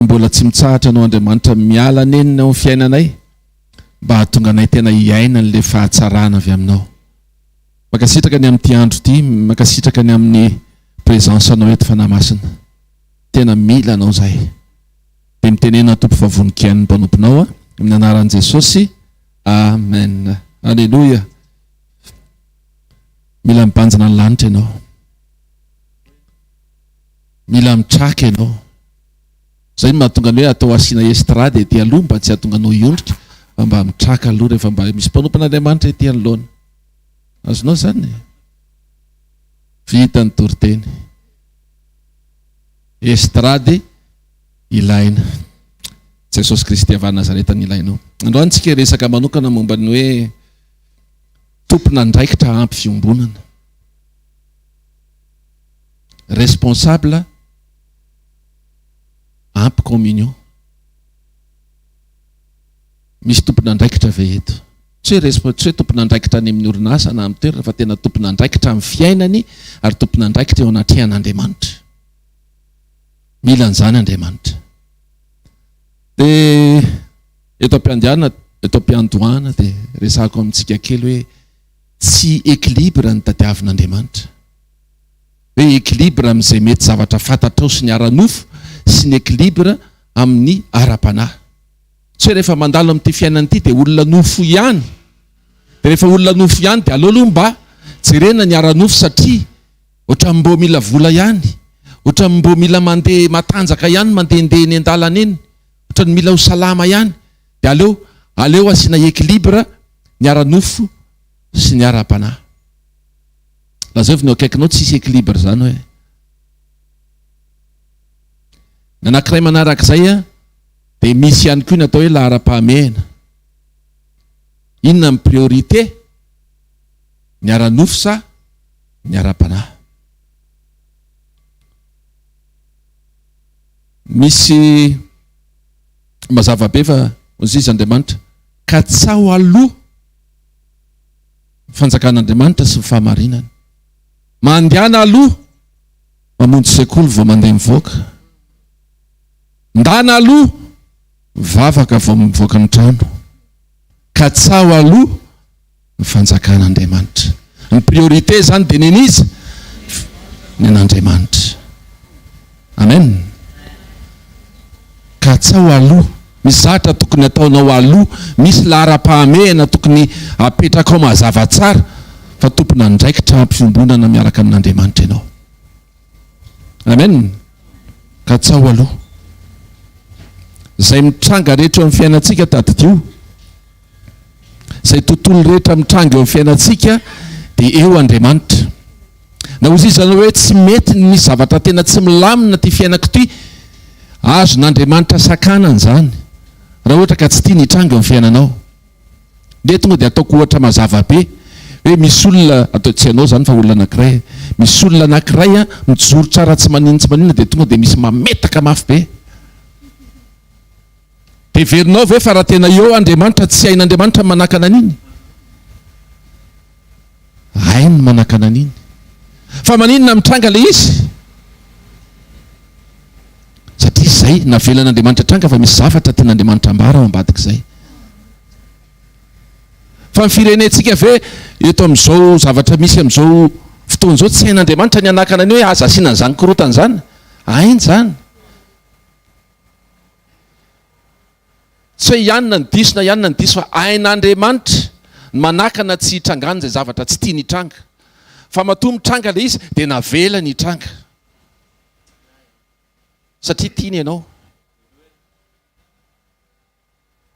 mbola tsy mitsahatra anao Andriamanitra miala nenina ao amin'ny fiainanay mba hahatonga anay tena hiaina an'ilay fahatsarana avy aminao. Mankasitraka ny amin'ity andro ity, mankasitraka ny amin'ny présence anao eto Fanahy Masina. Tena mila anao zahay. Dia mitenena Tompo fa vonon-kiain' ny mpanomponao a, amin'ny anaran'i Jesosy. Amen. Alléluia. Mila mibanjina ny lanitra ianao. Mila mitraka ianao. Zay no mahatonga ny hoe atao asiana estrade ety aloha mba tsy hahatonga anao hiondrika fa mba mitraka aloha rehefa mba misy mpanompon'Andriamanitra ety anoloana. Azonao izany? Vita ny toriteny. Estrade ilaina. Jesosy Kristy avy any Nazareta no ilainao. Androany tsika resaka manokana momba ny hoe tompon'andraikitra ampy fiombonana. responsable ampy communion. Misy tompon'andraikitra ve eto? Tsy hoe resp- tsy hoe tompon'andraikitra any amin'ny orinasa na amin'ny toerana fa tena tompon'andraikitra amin'ny fiainany ary tompon'andraikitra eo anatrehan'Andriamanitra. Mila an'izany Andriamanitra. Dia eto am-piandianana, eto am-piandohana dia resahako amintsika kely hoe tsy equilibre no tadiavin'Andriamanitra. Hoe equilibre amin'izay mety zavatra fantatrao sy ny ara-nofo sy ny equilibre amin'ny ara-panahy. Tsy hoe rehefa mandalo amin'ity fiainana ity dia olona nofo ihany. Dia rehefa olona nofo ihany dia aleo aloha mba jerena ny ara-nofo satria ohatran'ny mbô mila vola ihany, ohatran'ny mbô mila mandeha matanjaka ihany mandehandeha eny an-dalana eny. Otrany mila ho salama ihany de aleo aleo asiana equilibre ny ara nofo sy ny ara panahy. Lazaivy ny eo akaikinao tsisy equilibre zany hoe. Ny anakiray manarak'izay a de misy ihany koa ny atao hoe lahara pahamehana. Inona ny priorité ny ara nofo sa ny ara panahy. Misy mazava be fa Mozizy Andriamanitra, katsaho aloha ny fanjakan'Andriamanitra sy ny fahamarinany. Mandehana aloha mamonjy sekoly vao mandeha mivoaka. Ndana aloha mivavaka vao mivoaka ny trano. Katsaho aloha. ny fanjakan'Andriamanitra. Ny priorité izany dia nen'iza? Nen'Andriamanitra. Amen. Ka atsaho aloha, misy zavatra tokony ataonao aloha, misy laharam-pahamehana tokony apetrakao mazava tsara fa tompon'andraikitra am-piombonana miaraka amin'Andriamanitra ianao. Amen! Katsaho aloha. Izay mitranga rehetra eo amin'ny fiainantsika tadidio. Izay tontolo rehetra mitranga eo amin'ny fiainantsika dia eo Andriamanitra. Na ho iza na hoe tsy mety ny misy zavatra tena tsy milamina ity fiainako ity, azon'Andriamanitra sakanana izany raha ohatra ka tsy tiany hitranga eo amin'ny fiainanao. Dia tonga dia ataoko ohatra mazava be hoe misy olona, atao tsy ianao izany fa olona anankiray, misy olona anankiray mijoro tsara tsy maninona tsy maninona dia tonga dia misy mametaka mafy be. Dia heverinao ve fa raha tena eo Andriamanitra, tsy hain'Andriamanitra ny manakana an'iny? Hainy ny manakana an'iny. Fa maninona mitranga ilay izy? Satria izay navelan'Andriamanitra hitranga fa misy zavatra tian'Andriamanitra hambara ao ambadik'izay. Fa ny firenentsika ve eto amin'izao zavatra misy amin'izao fotoana izao tsy hain'Andriamanitra ny hanakana ny hoe aza asiana an'izany korontana izany? Hainy izany. Tsy hoe ihany na ny diso na ihany na ny diso fa ain'Andriamanitra ny manakana tsy hitrangana izay zavatra tsy tiany hitranga. Fa matoa mitranga ilay izy dia navelany hitranga. Satria tiany ianao.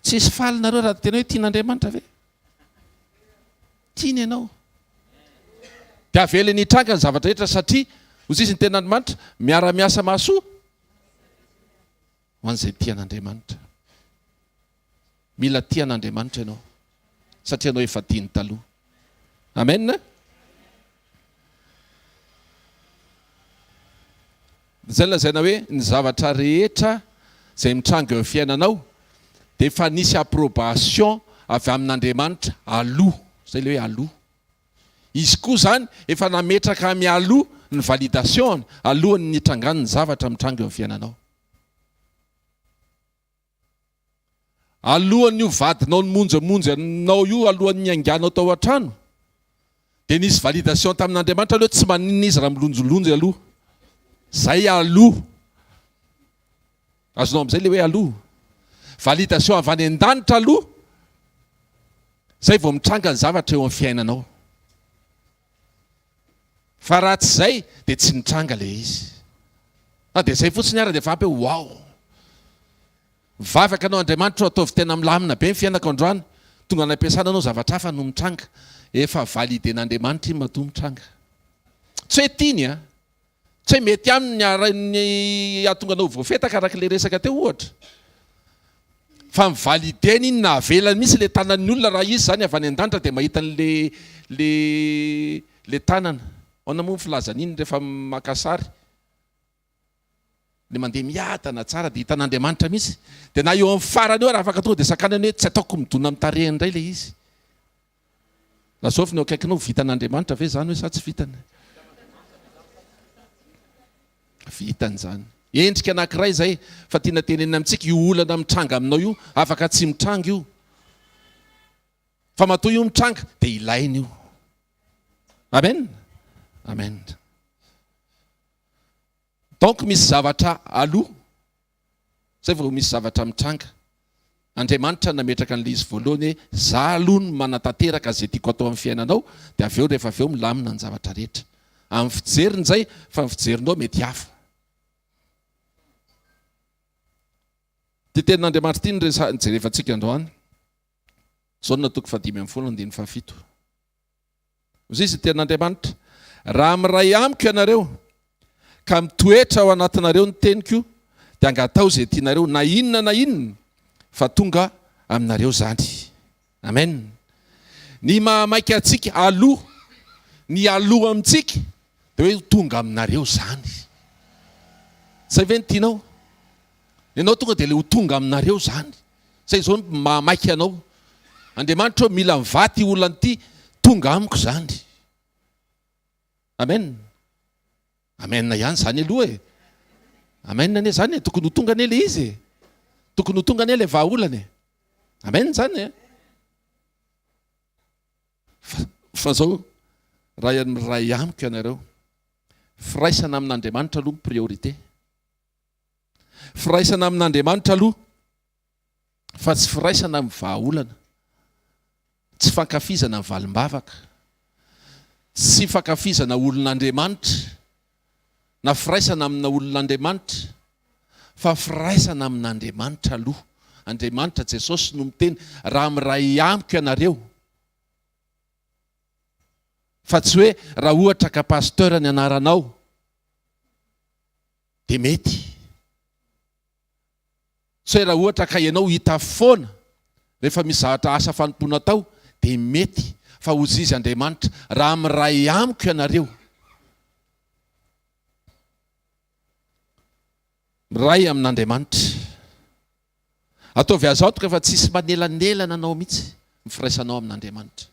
Tsy hisy faly nareo raha tena hoe tian'Andriamanitra ve? Tiany ianao. Dia avelany hitranga ny zavatra rehetra satria hoy izy ny tenin'Andriamanitra miara-miasa mahasoa. Ho an'izay tia an'Andriamanitra. Mila tia an'Andriamanitra ianao satria ianao efa tiany taloha. Amen. Izay lazaina hoe ny zavatra rehetra izay mitranga eo fiainanao dia efa nisy approbation avy amin'Andriamanitra aloha. Izay ilay hoe aloha. Izy koa izany efa nametraka mialoha ny validation-ny alohan'ny nitrangan'ny zavatra mitranga eo amin'ny fiainanao. Alohan'ny io vadinao nimonjamonja anao io, alohan'ny niainganao tao an-trano, dia nisy validation tamin'Andriamanitra aloha hoe tsy maninona izy raha milonjolonjy aloha. Izay aloha. Azonao amin'izay ilay hoe aloha? Validation avy any an-danitra aloha, izay vao mitranga ny zavatra eo amin'ny fiainanao. Fa raha tsy izay dia tsy nitranga ilay izy. Fa dia izay fotsiny ary dia efa ampy hoe wow. Mivavaka anao Andriamanitra ô ataovy tena milamina be ny fiainako androany, tonga any am-piasana anao zavatra hafa no mitranga, efa validen'Andriamanitra iny matoa mitranga. Tsy hoe tiany an! Tsy mety aminy ny arahin'ny hahatonga anao ho voafetaka araka ilay resaka teo ohatra. Fa mi-valider-ny iny na avelany mihitsy ilay tanan'ny olona raha izy izany avy any an-danitra dia mahita an'ilay ilay tanana. Ahoana moa ny filazan'iny rehefa maka sary? Ilay mandeha miadana tsara dia hitan'Andriamanitra mihitsy. Dia na eo amin'ny farany eo ary afaka tonga dia sakanany hoe tsy ataoko midona amin'ny tarehiny indray ilay izy. Lazao avy ny eo akaikinao, vitan'Andriamanitra ve izany hoe sa tsy vitany? Vitany izany. Endrika anankiray izay fa tiana tenenina amintsika, io olana mitranga aminao io, afaka tsy mitranga io, fa matoa io mitranga dia ilaina io. Amen. Amen. Donc misy zavatra aloha zay vao misy zavatra mitranga. Andriamanitra nametraka an'ilay izy voalohany hoe za aloha no manatanteraka zay tiako atao amin'ny fiainanao dia avy eo rehefa avy eo milamina ny zavatra rehetra. Amin'ny fijeriny zay fa ny fijerinao mety hafa. Ity tenin'Andriamanitra ity no resaha, jerevantsika androany. Jaona toko fahadimy ambin'ny folo andininy fahafito. Hoy izy, Tenin'Andriamanitra, raha miray amiko ianareo ka mitoetra ao anatinareo ny teniko, dia angataho izay tianareo, na inona na inona, fa tonga aminareo izany. Amen. Ny mahamaika antsika aloha, ny aloha amintsika, dia hoe ho tonga aminareo izany. Izay ve no tianao? Ianao tonga dia ilay ho tonga aminareo izany. Zay zao no maha maika anao. Andriamanitra ô mila mivaha ty olona ty tonga amiko zany. Amen. Amen ihany zany aloha e. Amen anie zany e, tokony ho tonga anie le izy e. Tokony ho tonga anie le vaha olana e. Amen zany e. Fa zao raha miray amiko ianareo, firaisana amin'Andriamanitra aloha ny priorité. Firaisana amin'Andriamanitra aloha fa tsy firaisana amin'ny vahaolana. Tsy fankafizana ny valim-bavaka. Tsy fankafizana olon'Andriamanitra na firaisana amina olon'Andriamanitra fa firaisana amin'Andriamanitra aloha. Andriamanitra, Jesosy no miteny, raha miray amiko ianareo, fa tsy hoe raha ohatra ka Pasteur ny anaranao. Dia mety. Sao raha ohatra ka ianao hita foana rehefa misy zavatra asa fanompoana atao, dia mety. Fa hozy izy Andriamanitra, Raha miray amiko ianareo, miray amin'Andriamanitra. Ataovy azy antoka fa tsisy manelanelana anao mihitsy ny firaisanao amin'Andriamanitra.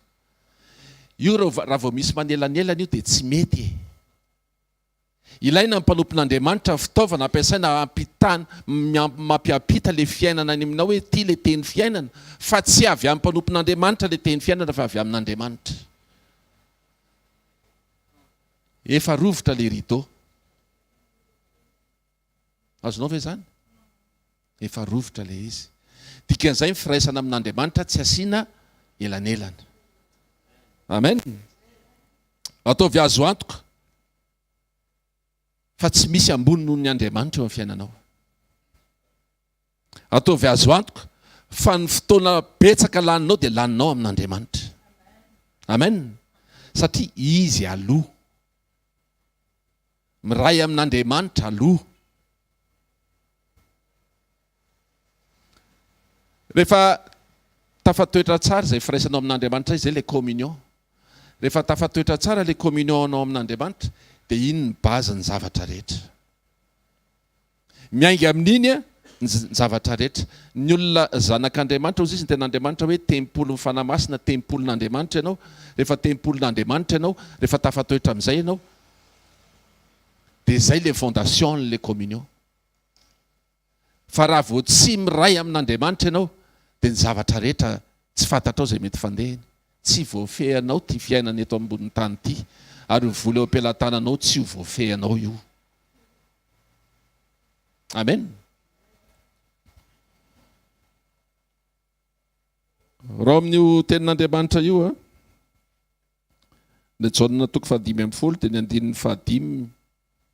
Io raha vao misy manelanelana io dia tsy mety e. Ilaina ny mpanompon'Andriamanitra ny fitaovana ampiasaina hampitana, mampiampita ilay fiainana any aminao hoe ity ilay teny fiainana fa tsy avy amin'ny mpanompon'Andriamanitra ilay teny fiainana fa avy amin'Andriamanitra. Efa rovitra ilay rideau. Azonao ve izany? Efa rovitra ilay izy. Dikan'izay ny firaisana amin'Andriamanitra tsy asiana elanelana. Amen. Ataovy azo antoka fa tsy misy ambony noho ny Andriamanitra eo amin'ny fiainanao. Ataovy azo antoka fa ny fotoana betsaka laninao dia laninao amin'Andriamanitra. Amen. Satria izy aloha. Miray amin'Andriamanitra aloha. Rehefa tafatoetra tsara izay firaisanao amin'Andriamanitra izay ilay communion. Rehefa tafatoetra tsara ilay communion-nao amin'Andriamanitra dia iny ny base-n'ny zavatra rehetra. Miainga amin'iny ny zavatra rehetra. Ny olona zanak'Andriamanitra, hoy Izy, ny tena Andriamanitra hoe, Tempolin'ny Fanahy Masina, tempolin'Andriamanitra ianao. Rehefa tempolin'Andriamanitra ianao, rehefa tafatoetra amin'izay ianao, dia izay ilay fondation'ilay communion. Fa raha vao tsy miray amin'Andriamanitra ianao, dia ny zavatra rehetra tsy fantatrao izay mety fandehany. Tsy voafehinao ity fiainana eto ambonin'ny tany ity, ary io vola eo am-pelatananao tsy ho voafehinao io. Amen. Raha amin'io tenin'Andriamanitra io, le Jaona toko fahadimy ambin'ny folo dia ny andininy fahadimy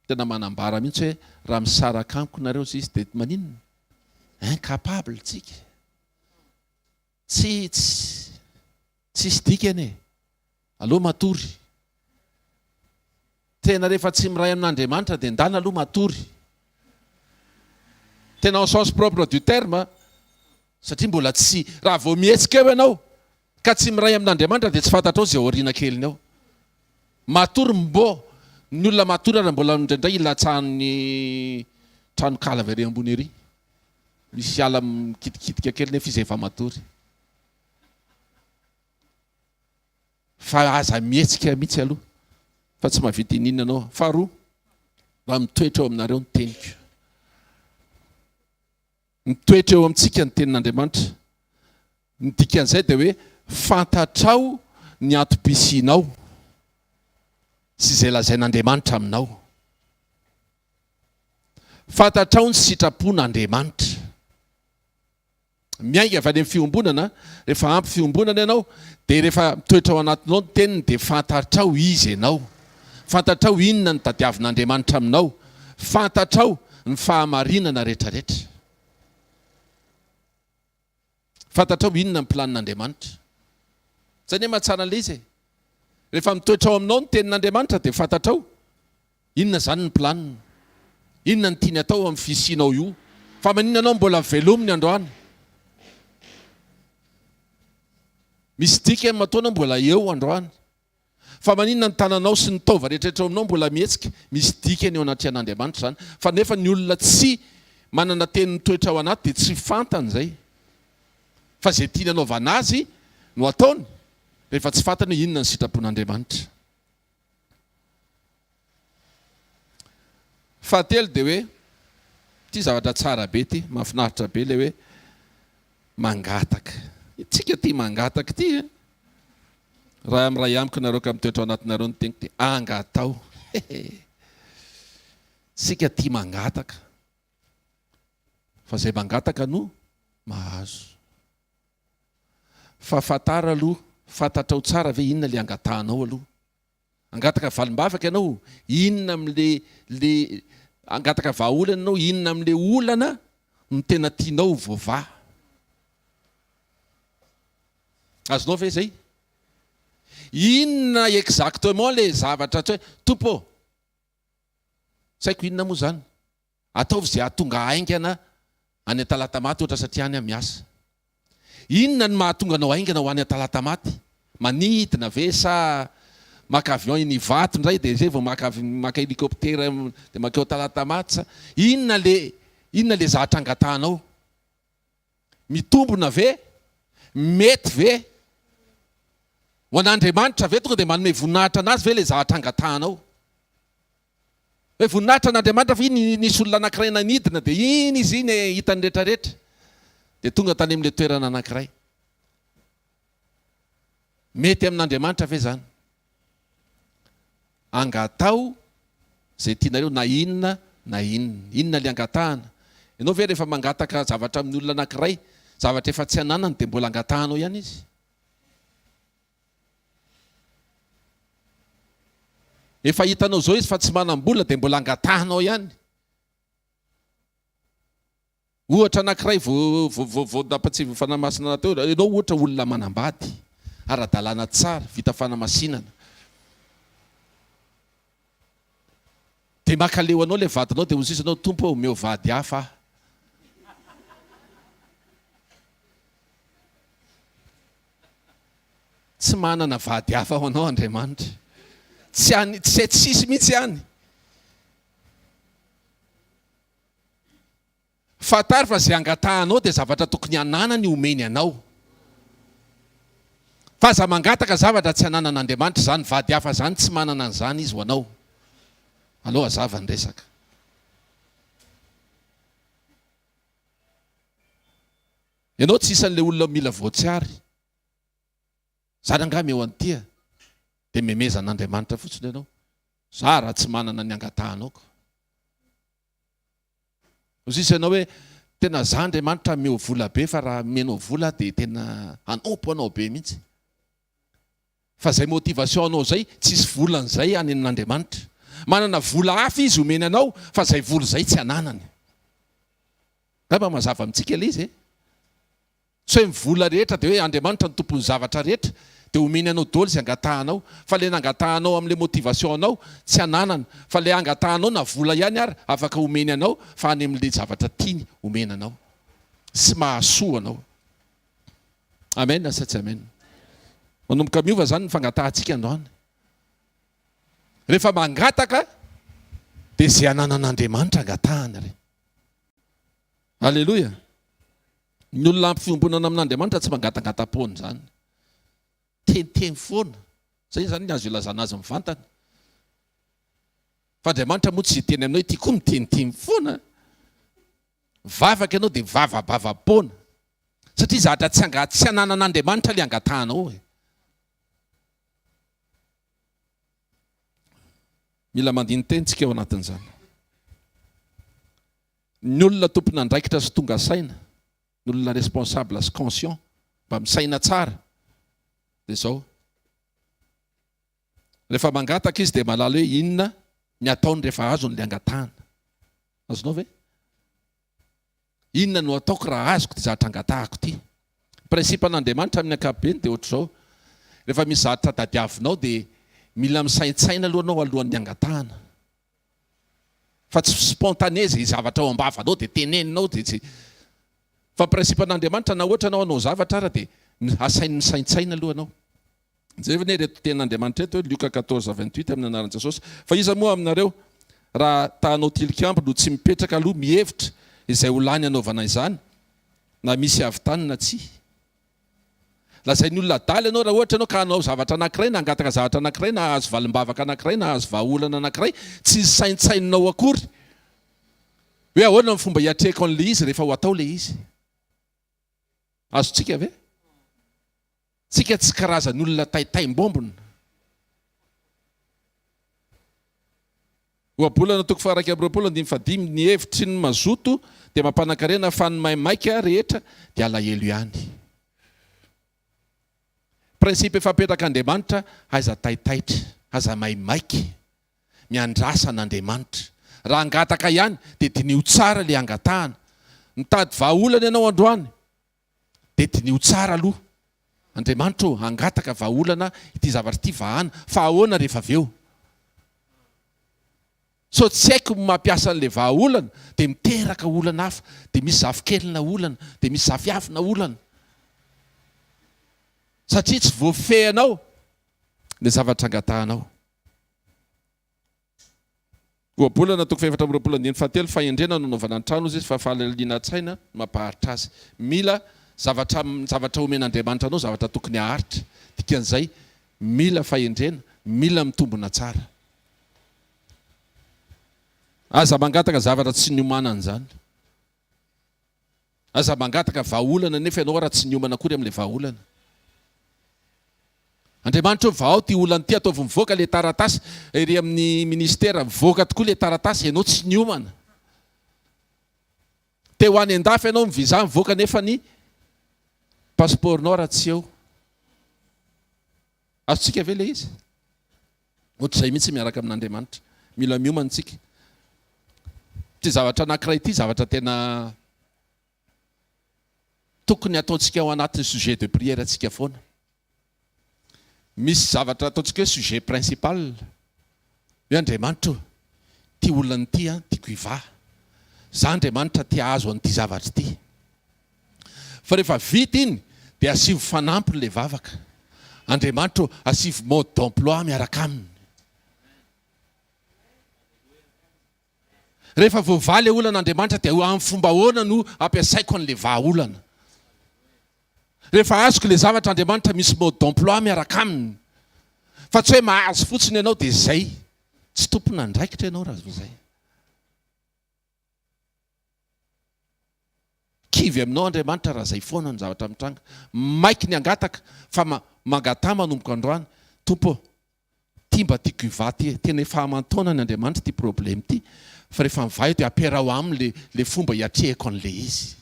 tena manambara mihitsy hoe raha misaraka amiko nareo izy dia maninona? Incapable tsika. Tsy tsisy dikany e! Aleo matory. Tena rehefa tsy miray amin'Andriamanitra dia ndana aloha matory. Tena en sens propre du terme a! Satria mbola tsy, raha vao mihetsika eo ianao ka tsy miray amin'Andriamanitra dia tsy fantatrao izay ao aoriana keliny ao. Matory mbô! Ny olona matory ary mbola indraindray ilatsahan'ny tranonkala avy ary ambony ery. Misy ala mikitikitika kely nefa izy efa matory. Fa aza mihetsika mihitsy aloha fa tsy mahavita iniana anao. Faharoa, mba mitoetra eo aminareo ny teniko. Mitoetra eo amintsika ny tenin'Andriamanitra. Ny dikan'izay dia hoe fantatrao ny antom-pisianao sy izay lazain'Andriamanitra aminao. Fantatrao ny sitrapon' Andriamanitra. Miainga avy any amin'ny fiombonana, rehefa ampy fiombonana ianao dia rehefa mitoetra ao anatinao ny teniny dia fantatrao iza ianao, fantatrao inona no tadiavin' Andriamanitra aminao, fantatrao ny fahamarinana rehetrarehetra. Fantatrao inona ny planin'Andriamanitra? Zay anie mahatsara an'ilay izy e! Rehefa mitoetra ao aminao ny tenin'Andriamanitra dia fantatrao inona izany ny planiny, inona ny tiany atao amin'ny fisianao io, fa maninona ianao mbola velominy androany? Misy dikany matoa ianao mbola eo androany. Fa maninona ny tananao sy ny taova rehetra eto aminao mbola mihetsika? Misy dikany eo anatrehan'Andriamanitra izany. Fa nefa ny olona tsy manana teny mitoetra ao anaty dia tsy fantany izay. Fa izay tiany hanaovana azy no ataony rehefa tsy fantany hoe inona ny sitrapon'Andriamanitra. Fahatelo dia hoe, ity zavatra tsara be ity, mahafinaritra be ilay hoe mangataka. Isika tia mangataka ity e! Raha miray amiko nareo ka mitoetra ao anatinareo ny teniko dia angataho. Isika tia mangataka. Fa izay mangataka no mahazo. Fa fantaro aloha, fantatrao tsara ve inona ilay angatahanao aloha. Hangataka valim-bavaka ianao, inona amin'le le hangataka vahaolana ianao, inona amin'le olana no tena tianao ho voavaha. Azonao ve zay? Inona exactement le zavatra atao hoe Tompo ô, tsy haiko inona moa zany. Ataovy izay hahatonga haingana any Antalatamaty ohatra satria any aho miasa. Inona no mahatonga anao haingana ho any Antalatamaty? Manidina ve sa maka avion eny Ivato indray dia izay vao maka maka hélicoptère dia mankeo Antalatamaty sa inona le inona le zatra angatahanao? Mitombona ve? Mety ve? Ho an'Andriamanitra ve tonga dia manome voninahitra an'Azy ve ilay zavatra angatahanao? Hoe voninahitra an'Andriamanitra ve iny nisy olona anankiray nanidina dia iny izy iny hitan'ny rehetrarehetra dia tonga tany amin'ilay toerana anankiray? Mety amin'Andriamanitra ve izany? Angataho izay tianareo na inona na inona. Inona ilay angatahana? Ianao ve rehefa mangataka zavatra amin'ny olona anankiray, zavatra efa tsy ananany dia mbola angatahanao ihany izy? Efa hitanao izao izy fa tsy manam-bola dia mbola angatahanao ihany? Ohatra anankiray voadapatsivon'ny Fanahy Masina natao io, ianao ohatra olona manambady, ara-dalàna tsara, vita fanamasinana, dia mankaleo anao ilay vadinao dia hozizy ianao, Tompo ô, omeo vady hafa aho. Tsy manana vady hafa ho anao Andriamanitra. Tsy any, tsy tsisy mihitsy any. Fantaro fa izay angatahanao dia zavatra tokony hananany homeny anao. Fa aza mangataka zavatra tsy ananan'Andriamanitra, izany vady hafa izany tsy manana an'izany Izy ho anao. Aleo hazava ny resaka. Ianao tsy isan'ilay olona mila voatsiary. Zara angaha meo an'tia dia memeza an'Andriamanitra fotsiny ianao. Za raha tsy manana ny angatahanao ko. Ozy izy anao hoe tena za Andriamanitra ameo vola be fa raha amenao vola aho dia tena hanompo anao be mihitsy. Fa zay motivation anao zay tsisy volany zay any amin'Andriamanitra. Manana vola hafa izy omeny anao fa zay vola zay tsy ananany. Ngamba mazava amintsika le izy e. Tsy hoe ny vola rehetra dia hoe Andriamanitra no tompon'ny zavatra rehetra dia homeny anao doly izay angatahanao fa ilay nangatahanao amin'ilay motivation anao tsy ananana fa ilay angatahanao na vola ihany ary afaka homeny anao fa any amin'ilay zavatra tiany homena anao sy mahasoa anao Amen sa tsy Amen Manomboka miova izany ny fangatahantsika androany rehefa mangataka dia izay ananan'Andriamanitra angatahana re Aleloia. Ny olona ampy fiombonana amin'Andriamanitra tsy mangatangatam-poana izany. Teniteny foana. Izay izany ny azo ilazana azy mivantana. Fa Andriamanitra moa tsy hiteny aminao ity koa miteniteny foana. Mivavaka ianao dia mivavabava-poana. Satria zatra tsy anga tsy ananan'Andriamanitra ilay angatahanao e. Mila mandini-teny tsika eo anatin'izany. Ny olona tompon'andraikitra sy tonga saina, ny olona responsable sy conscient, mba misaina tsara, dia izao, rehefa mangataka izy dia mahalala hoe inona ny ataony rehefa azony ilay angatahana. Azonao ve? Inona no ataoko raha azoko ity zavatra angatahako ity? Principe-n'Andriamanitra amin'ny ankapobeny dia ohatr'izao, rehefa misy zavatra tadiavinao dia mila misaintsaina aloha ianao alohan'ny angatahana. Fa tsy spontané izay zavatra ao am-bavanao dia teneninao dia tsy. Fa principe an'Andriamanitra na ohatra ianao hanao zavatra ara dia asainy misaintsaina aloha ianao. Jereo anie ireto tenin'Andriamanitra ireto hoe Lioka quatorze vingt huit amin'ny anaran'i Jesosy. Fa iza moa aminareo raha ta hanao tilikambo no tsy mipetraka aloha mihevitra izay ho lany hanaovana izany na misy havitany na tsia. Lazain'ny olona adala ianao raha ohatra ianao ka hanao zavatra anankiray na hangataka zavatra anankiray na hahazo valim-bavaka anankiray na hahazo vahaolana anankiray tsy saintsaininao akory hoe ahoana ny fomba hiatrehako an'ilay izy rehefa ho atao ilay izy. Azontsika ve? Tsika tsy karazan'olona taitaim-bombona. Ohabolana toko faha-iraika amby roapolo andininy fahadimy, Ny hevitry ny mazoto dia mampanan-karena fa ny maimaika rehetra dia alahelo ihany. Principe efa apetrak'Andriamanitra, Aiza taitaitra, aza maimaika, miandrasa an'Andriamanitra. Raha hangataka ihany dia diniho tsara ilay hangatahana. Mitady vahaolana ianao androany, Dia diniho tsara aloha. Andriamanitra ô, hangataka vahaolana ity zavatra ity vahana, fa ahoana rehefa avy eo? Sao tsy haiko ny mampiasa an'ilay vahaolana, dia miteraka olana hafa, dia misy zafikelina olana, dia misy zafiafina olana. Satria tsy voafehinao ilay zavatra angatahanao. Ohabolana toko fahefatra amby roapolo andininy fahatelo, Fahendrena no anaovana ny trano, hoy Jesosy, fa fahalaliana an-tsaina no mampaharitra azy. Mila zavatra zavatra omen'Andriamanitra anao, zavatra tokony haharitra. Dikan'izay, mila fahendrena, mila mitombina tsara. Aza mangataka zavatra tsy niomanan'izany. Aza mangataka vahaolana anefa ianao ary tsy niomana akory amin'ilay vahaolana. Andriamanitra o, vahao ity olana ity, ataovy mivoaka ilay taratasy ery amin'ny ministera, mivoaka tokoa ilay taratasy, ianao tsy niomana. Te ho any an-dafy ianao, ny visa mivoaka nefa ny passeport-nao raha tsy eo. Azontsika ve ilay izy? Ohatr'izay mihitsy miaraka amin'Andriamanitra. Mila miomana isika. Ity zavatra anankiray ity zavatra tena tokony ataontsika ao anatin'ny sujet de prière antsika foana. Misy zavatra ataontsika hoe sujet principal. Hoe Andriamanitra o, ity olona ity an, tiako hivaha. Za Andriamanitra te hahazo an'ity zavatra ity. Fa rehefa vita iny dia asivo fanampiny ilay vavaka. Andriamanitra o, asivo mode d'emploi miaraka aminy. Rehefa voavaha ilay olana Andriamanitra dia amin'ny fomba ahoana no hampiasaiko an'ilay vahaolana? Rehefa azoko ilay zavatra Andriamanitra misy mode d'emploi miaraka aminy fa tsy hoe mahazo fotsiny ianao dia izay. Tsy tompon'andraikitra ianao raha vao izay. Kivy aminao Andriamanitra raha izay foana ny zavatra mitranga. Maiky ny hangataka fa mangataha manomboka androany, Tompo ô, Ty mba tiako hivaha ty e, tena efa aman-taonany Andriamanitra ity problème ity fa rehefa mivaha eo dia ampiaraho aminy le le fomba hiatrehako an'ilay izy.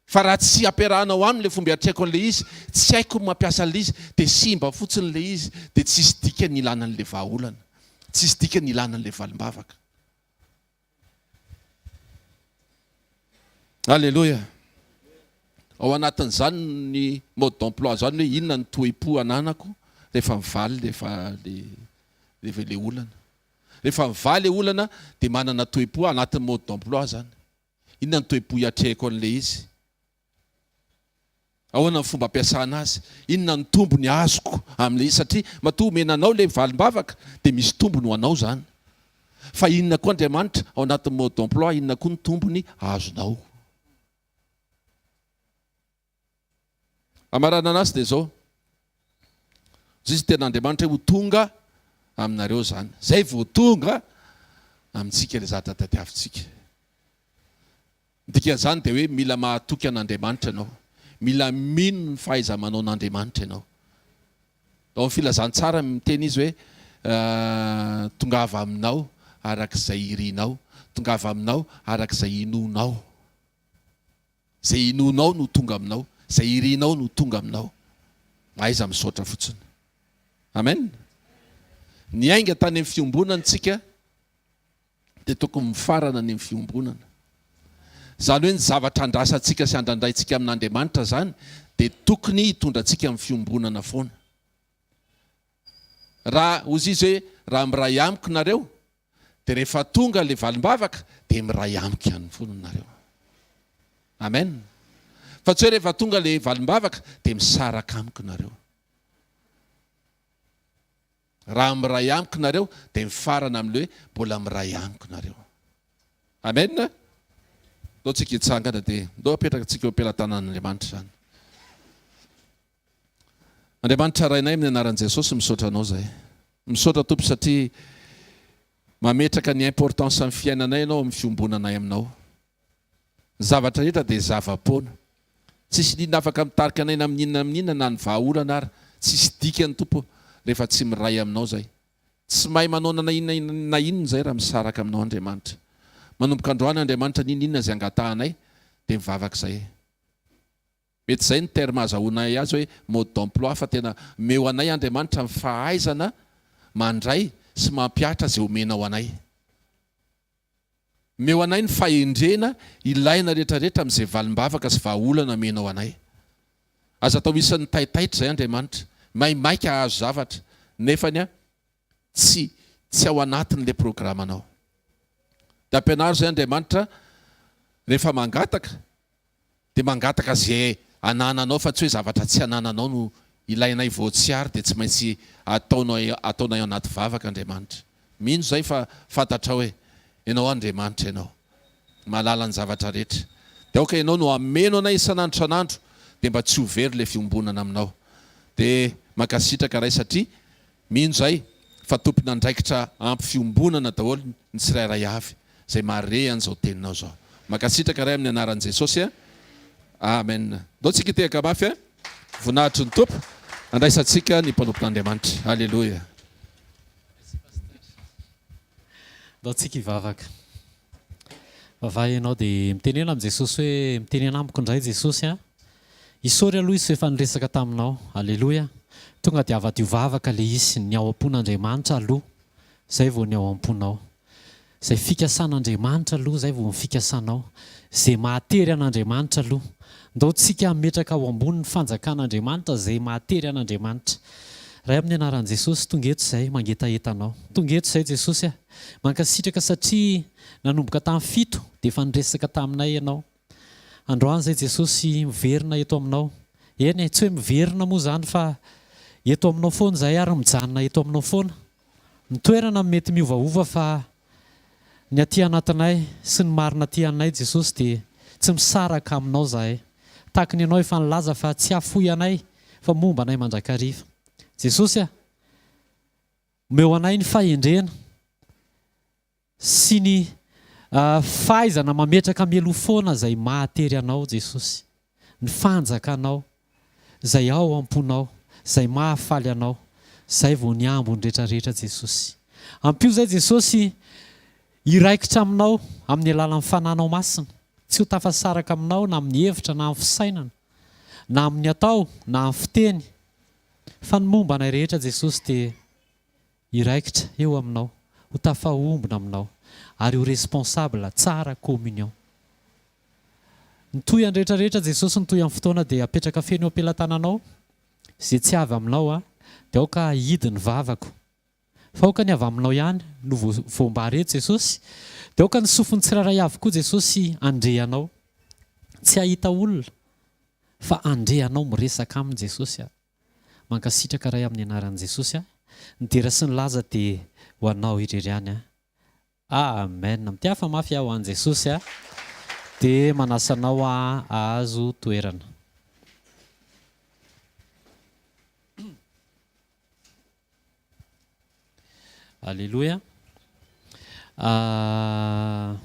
Fa raha tsy ampiarahanao aminy le fomba hiatrehako an'ilay izy, tsy haiko ny mampiasa an'ilay izy dia simba fotsiny ilay izy dia tsisy dikany ilana an'ilay vahaolana, tsisy dikany ilana an'ilay valim-bavaka. Aleloia! Ao anatin'izany ny mode d'emploi izany hoe inona ny toe-po ananako rehefa mivaly rehefa le rehefa ilay olana. Rehefa mivaly ilay olana dia manana toe-po anatin'ny mode d'emploi izany. Inona ny toe-po hiatrehako an'ilay izy? Ahoana ny fomba ampiasana azy? Inona ny tombony azoko amin'ilay izy? Satria matoa omena anao ilay valim-bavaka dia misy tombony ho anao izany. Fa inona koa Andriamanitra? Ao anatin'ny mode d'emploi, inona koa ny tombony azonao? Hamaranana azy dia izao, Zay izy tenin'Andriamanitra hoe ho tonga aminareo izany. Zay vao tonga amintsika ilay zavatra tadiavintsika. Ny dikan'izany dia hoe mila mahatoky an'Andriamanitra ianao. Mila mino ny fahaiza-manaon'Andriamanitra ianao. Ao amin'ny filazantsarany miteny izy hoe tongava aminao arak'izay irinao, tongava aminao arak'izay inoanao. Zay inoanao no tonga aminao, zay irinao no tonga aminao. Mahaiza misaotra fotsiny. Amen. Niainga tany amin'ny fiombonana tsika dia tokony mifarana ny amin'ny fiombonana. Zany hoe ny zavatra andrasantsika sy andrandraintsika amin'Andriamanitra zany dia tokony hitondra antsika amin'ny fiombonana foana. Raha hozizy hoe raha miray amiko nareo Dia rehefa tonga ilay valim-bavaka dia miray amiko ihany foana nareo. Amen. Fa tsy hoe rehefa tonga ilay valim-bavaka dia misaraka amiko nareo. Raha miray amiko nareo dia mifarana amin'ilay hoe mbola miray amiko nareo. Amen. Ndao tsika hitsangana dia ndao apetrakantsika eo am-pelatanan'Andriamanitra izany. Andriamanitra Rainay amin'ny anaran'i Jesosy misaotra Anao zahay. Misaotra Tompo satria mametraka ny importance amin'ny fiainanay Ianao amin'ny fiombonanay Aminao. Ny zavatra rehetra dia zava-poana. Tsisy inona afaka mitarika anay na amin'inona na amin'inona na ny vahaolana ary tsisy dikany Tompo rehefa tsy miray Aminao zahay. Tsy mahay manao na inona na inona zahay raha misaraka Aminao Andriamanitra. Manomboka androany Andriamanitra n'inona na inona izay angatahanay dia mivavaka zahay. Mety izay ny terme azahoanay azy hoe mode d'emploi fa tena omeo anay Andriamanitra ny fahaizana mandray sy mampihatra izay omenao anay. Omeo anay ny fahendrena ilaina rehetrarehetra amin'izay valim-bavaka sy vahaolana omenao anay. Aza atao isan'ny taitaitra izay Andriamanitra. Maimaika hahazo zavatra, nefany Tsy tsy ao anatin'ilay programanao. Dia ampianaro izay Andriamanitra rehefa mangataka dia mangataka izay anananao fa tsy hoe zavatra tsy anananao no ilainay vao tsy ary dia tsy maintsy ataonao ataonay anaty vavaka Andriamanitra. Mino izay fa fantatrao hoe Ianao Andriamanitra Ianao. Mahalala ny zavatra rehetra. Dia aoka Ianao no hameno anay isan'andro isan'andro dia mba tsy ho very ilay fiombonana aminao. Dia mankasitraka Ray satria Mino izay fa tompon'andraikitra ampy fiombonana daholo ny tsirairay avy izay mahare an'izao teninao izao. Mankasitraka Ray amin'ny anaran'i Jesosy a! Amen. Ndao tsika hitehaka mafy a! Voninahitry ny Tompo andraisantsika ny mpanompo Andriamanitra. Aleloia. Ndao tsika hivavaka. Vavaha ianao dia mitenena amin'i Jesosy hoe, mitenena amiko indray Jesosy a! Isaory aloha Izy f'efa niresaka taminao. Aleloia! Tonga dia havadio vavaka ilay izy, ny ao am-pon'Andriamanitra aloha, izay vao ny ao am-ponao. Izay fikasan'Andriamanitra aloha, izay vao ny fikasanao. Izay mahatery an'Andriamanitra aloha. Ndao tsika hametraka ao ambony ny fanjakan'Andriamanitra izay mahatery an'Andriamanitra. Ray amin'ny anaran'i Jesosy, tonga eto izay mangetaheta Anao. Tonga eto izay Jesosy a! Mankasitraka satria nanomboka tamin'ny fito dia efa niresaka taminay ianao. Androany izay Jesosy miverina eto aminao. Eny e, tsy hoe miverina moa izany fa eto aminao foana izahay ary mijanona eto aminao foana. Ny toerana mety miovaova fa ny aty anatinay sy ny marina aty anay Jesosy dia tsy misaraka aminao izahay. Tahaka ny ianao efa nilaza fa tsy hafoy anay fa momba anay mandrakariva. Jesosy a! Omeo anay ny fahendrena sy ny fahaizana mametraka mialoha foana izay mahatery Anao, Jesosy. Ny Fanjakanao, izay ao am-ponao, izay mahafaly Anao. Izay vao ny ambiny rehetra rehetra, Jesosy. Ampio izay, Jesosy, hiraikitra Aminao amin'ny alalan'ny Fananao Masina. Tsy ho tafasaraka Aminao na amin'ny hevitra na amin'ny fisainana, na amin'ny atao na amin'ny fiteny. Fa ny momba anay rehetra Jesosy dia hiraikitra eo aminao, ho tafahombona aminao ary ho responsable tsara communion. Ny tohiny rehetra rehetra Jesosy ny tohin'ny fotoana dia apetraka feno eo am-pelatananao, izay tsy avy aminao dia aoka hidy ny vavako. Fa aoka ny avy aminao ihany no voambara eto Jesosy Dia aoka ny sofin'ny tsirairay avy koa Jesosy handre anao Tsy hahita olona fa handre anao Miresaka aminy Jesosy a Mankasitraka Ray amin'ny anaran'i Jesosy a Ny dera sy ny laza dia ho anao irery ihany a. Amen mty hafa mafy aho an Jesosy a de manasa anao aho ahazo toerana. Aleloia ah.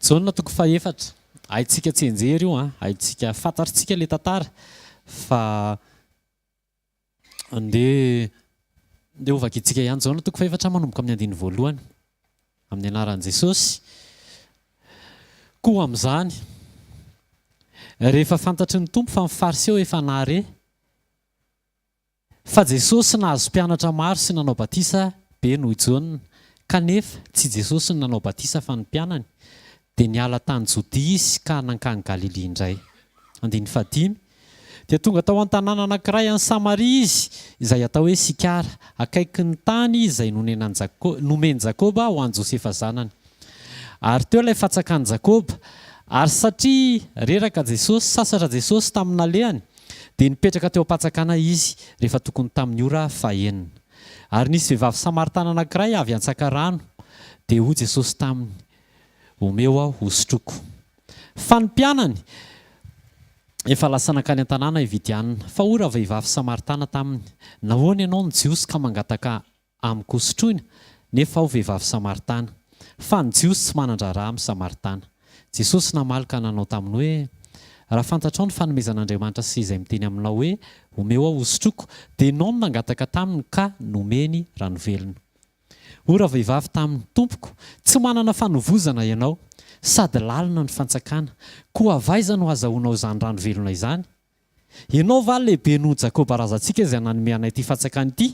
Jaona toko fahefatra. Haintsika tsianjery io an, haintsika fantatritsika ilay tantara fa Andeha andeha ho vakintsika ihany izao ny toko fahefatra manomboka amin'ny andininy voalohany. Amin'ny anaran'i Jesosy. Koa amin'izany, rehefa fantatry ny Tompo fa ny Fariseo efa nahare fa Jesosy nahazo mpianatra maro sy nanao batisa be noho i Jaona, kanefa tsy Jesosy no nanao batisa fa ny mpianany, dia niala tany Jodia izy ka nankany Galilia indray. Andininy fahadimy. Dia tonga tao an-tanàna anankiray any Samaria izy, izay atao hoe Sikara, akaiky ny tany izay nomen'i Jakoba ho an'i Josefa zanany. Ary teo ilay fatsakan'i Jakoba. Ary satria reraka Jesosy, sasatra Jesosy tamin'ny nalehany, dia nipetraka teo am-patsakana Izy, rehefa tokony tamin'ny ora fahenina. Ary nisy vehivavy Samaritana anankiray avy hantsaka rano, dia hoy Jesosy taminy, Omeo aho hosotroiko. Fa ny mpianany efa lasa nankany an-tanàna hividianana. Fa hoy ravehivavy Samaritana taminy, Nahoana ianao no Jiosy ka mangataka amiko hosotroina, nefa aho vehivavy Samaritana? Fa ny Jiosy tsy manan-draharaha amin'ny Samaritana. Jesosy namaly ka nanao taminy hoe, Raha fantatrao ny fanomezan'Andriamanitra sy izay miteny aminao hoe, Omeo aho hosotroiko, dia ianao no nangataka taminy ka nomeny rano velona. O ravehivavy taminy, tompoko, tsy manana fanovozana ianao, sady lalina ny fantsakana, koa avy aiza no hazahoanao izany rano velona izany? Ianao va lehibe noho Jakoba razantsika izay nanome anay ity fantsakana ity?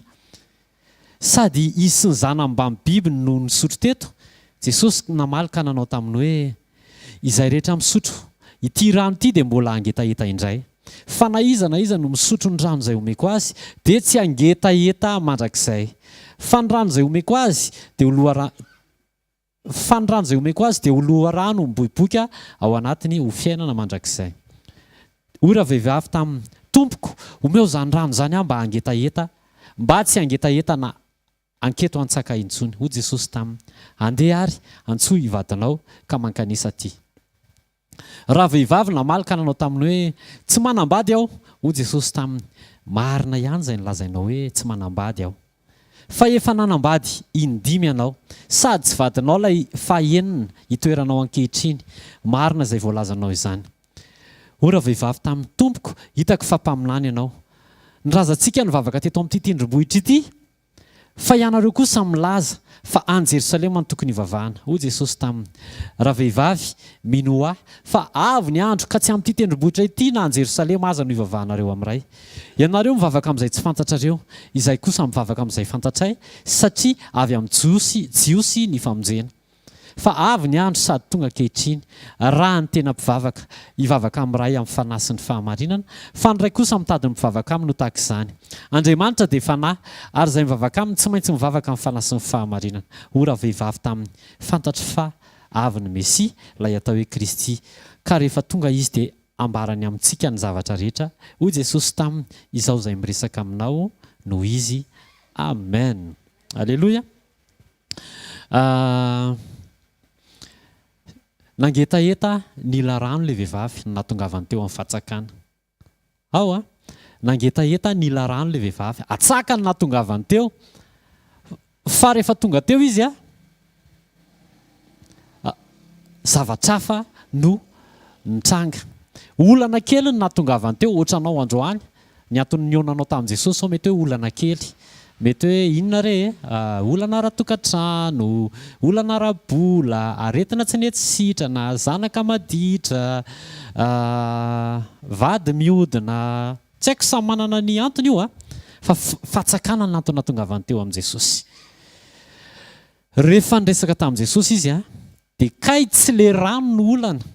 Sady izy sy ny zanany mbamin'ny bibiny no nisotro teto. Jesosy namaly ka nanao taminy hoe, Izay rehetra misotro ity rano ity dia mbola hangetaheta indray. Fa na iza na iza no misotro ny rano izay homeko azy dia tsy hangetaheta mandrakizay. Fa ny rano izay homeko azy dia ho loharano, fa ny rano izay homeko azy dia ho loharano miboiboika ao anatiny ho fiainana mandrakizay. Hoy ravehivavy taminy, Tompoko, omeo izany rano izany aho mba hangetaheta, mba tsy hangetaheta na Anketo hantsaka intsony. Hoy Jesosy taminy, Andeha ary, antsoy i vadinao ka mankanesa aty. Ravehivavy namaly ka nanao taminy hoe, Tsy manambady aho. Hoy Jesosy taminy, Marina ihany izay nolazainao hoe, Tsy manambady aho. Fa efa nanambady indimy ianao, sady tsy vadinao ilay fahenina itoeranao ankehitriny. Marina izay voalazanao izany. O ravehivavy tamin'ny Tompoko, hitako fa mpaminany ianao. Ny razantsika nivavaka teto amin'ity tendrombohitra ity, fa ianareo kosa milaza fa any Jerosalema no tokony hivavahana. Hoy Jesosy taminy, Ravehivavy, minoa Ahy, fa avy ny andro ka tsy amin'ity tendrombohitra ity na any Jerosalema aza no hivavahanareo amin'ny Ray. Ianareo mivavaka amin'izay tsy fantatrareo, Izahay kosa mivavaka amin'izay fantatray, satria avy amin'ny Jiosy, Jiosy ny famonjena. Fa avy ny andro sady tonga ankehitriny, raha ny tena mpivavaka hivavaka amin'ny Ray amin'ny Fanahy sy ny fahamarinana, fa ny Ray kosa mitady ny mpivavaka Aminy ho tahaka izany. Andriamanitra dia Fanahy, ary izay mivavaka Aminy tsy maintsy mivavaka amin'ny Fanahy sy ny fahamarinana. O ravehivavy taminy, fantatro fa avy ny Mesia, ilay atao hoe Kristy, ka rehefa tonga Izy dia hambarany amintsika ny zavatra rehetra. Hoy Jesosy taminy, Izao izay miresaka aminao no Izy. Amen! Aleloia! Nangetaheta nila rano ilay vehivavy no nahatongavany teo amin'ny fatsakana. Ao a! Nangetaheta nila rano ilay vehivavy. Atsaka no nahatongavany teo. Fa rehefa tonga teo izy a, zavatra hafa no nitranga. Olana kely no nahatongavany teo, ohatranao androany, ny antony nihaonanao tamin'i Jesosy sao mety hoe olana kely. Mety hoe inona re e? Olana ara-tokantrano, olana ara-bola, aretina tsy nety sitrana, zanaka maditra, vady mihodina, tsy haiko, samy manana ny antony io a! Fa fatsakana ny antony nahatongavany teo amin'i Jesosy. Rehefa niresaka tamin'i Jesosy izy dia kay tsy le rano no olana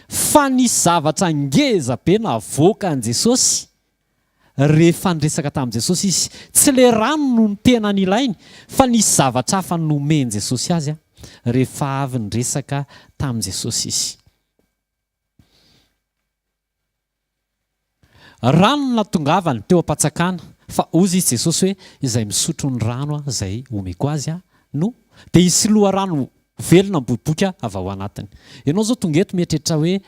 Fa nisy zavatra ngeza be navoaka an'i Jesosy rehefa niresaka tamin'i Jesosy izy. Tsy ilay rano no tena nilainy, fa nisy zavatra hafa nomen'i Jesosy azy rehefa avy niresaka tamin'i Jesosy izy. Rano no natongavany teo am-patsakana, fa hozy izy Jesosy hoe, izay misotro ny rano aho izay homeko azy aho no dia hisy loharano velona miboiboika avy ao anatiny. Ianao izao tonga eto mieritreritra hoe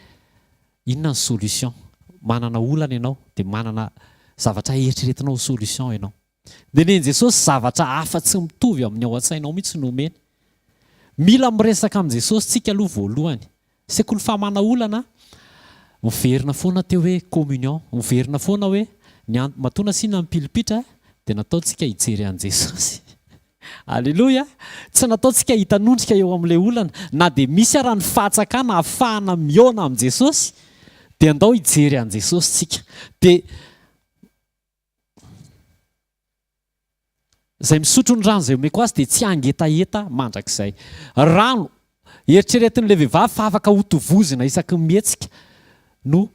inona ny solution. Manana olana ianao dia manana zavatra eritreretinao ho solution ianao. Dia nen'i Jesosy zavatra hafa tsy mitovy amin'ny ao an-tsainao mihitsy no omeny. Mila miresaka amin'i Jesosy tsika aloha voalohany. Sekoly famana olana, miverina foana teo hoe communion, miverina foana hoe ny an-, matoa nasiana ny pilipitra dia nataontsika hijery an'i Jesosy. Aleloia! Tsy nataontsika hitanondrika eo amin'ilay olana. Na dia misy ara ny fahatsakana ahafahana mihaona amin'i Jesosy, dia andao hijery an'i Jesosy tsika. Dia Izay misotro ny rano izay omeko azy dia tsy hangetaheta mandrakizay. Rano eritreretin'ilay vehivavy fa afaka hotovozina isaky ny mihetsika no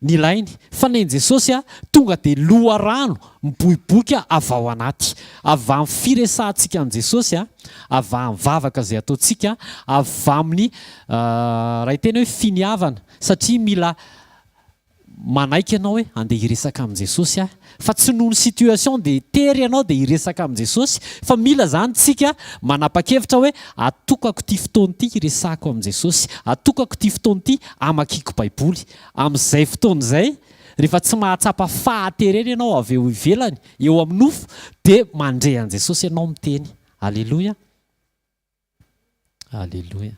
nilainy. Fa ny an'i Jesosy, tonga dia loharano miboiboika avy ao anaty. Avy amin'ny firesahantsika an'i Jesosy, avy amin'ny vavaka izay ataontsika, avy amin'ny, raha hiteny hoe finiavana, satria mila Manaiky ianao hoe handeha hiresaka amin'i Jesosy aho fa tsy noho ny situation dia tery ianao dia hiresaka amin'i Jesosy fa mila izany tsika manapakevitra hoe atokako ity fotoana ity hiresahako amin'i Jesosy, atokako ity fotoana ity hamakiako baiboly. Amin'izay fotoana izay rehefa tsy mahatsapa fahaterena ianao avy eo ivelany eo amin'ny nofo dia mandre an'i Jesosy ianao miteny. Aleloia! Aleloia!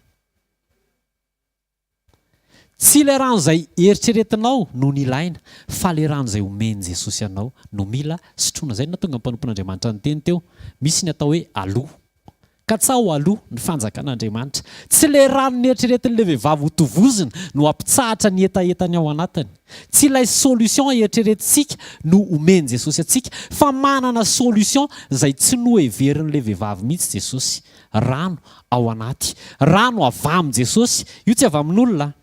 Tsy le rano zay eritreretinao no nilaina fa le rano zay omen'i Jesosy anao no mila sotroina zay no nahatonga ny mpanompon'Andriamanitra niteny teo misy ny atao hoe aloa katsaho aloa ny fanjakan'Andriamanitra tsy le rano neritreretin'le vehivavy hotovozina no hampitsahatra ny hetahetany ao anatiny tsy ilay solution eritreretintsika no omen'i Jesosy antsika fa manana solution zay tsy noheverin'le vehivavy mihitsy Jesosy Rano ao anaty. Rano avy amin Jesosy. Io tsy avy amin olona.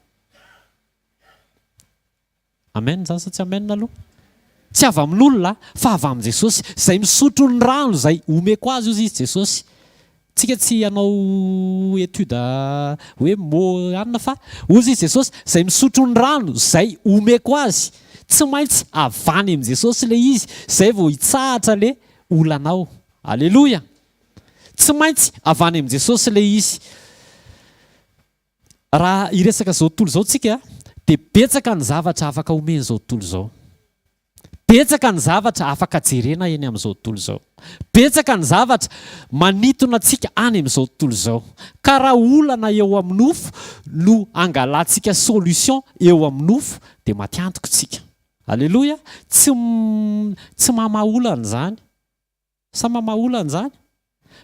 Amen zany sa tsy amen aloha? Tsy avy amin olona fa avy amin Jesosy. Zay misotro ny rano zay omeko azy ozy izy Jesosy. Tsika tsy hanao etude hoe mots anina fa ozy izy Jesosy zay misotro ny rano zay omeko azy. Tsy maintsy avy any amin Jesosy le izy zay vao hitsahatra le olanao. Aleloia! Tsy maintsy avy any amin'i Jesosy ilay izy. Raha hiresaka izao tontolo izao isika dia betsaka ny zavatra afaka omena izao tontolo izao. Betsaka ny zavatra afaka jerena eny amin'izao tontolo izao. Betsaka ny zavatra manintona antsika any amin'izao tontolo izao. Ka raha olana eo amin'ny nofo no angalantsika solution eo amin'ny nofo dia matiantiko isika. Aleloia! Tsy tsy mamaha olana izany. Sa mamaola an'izany?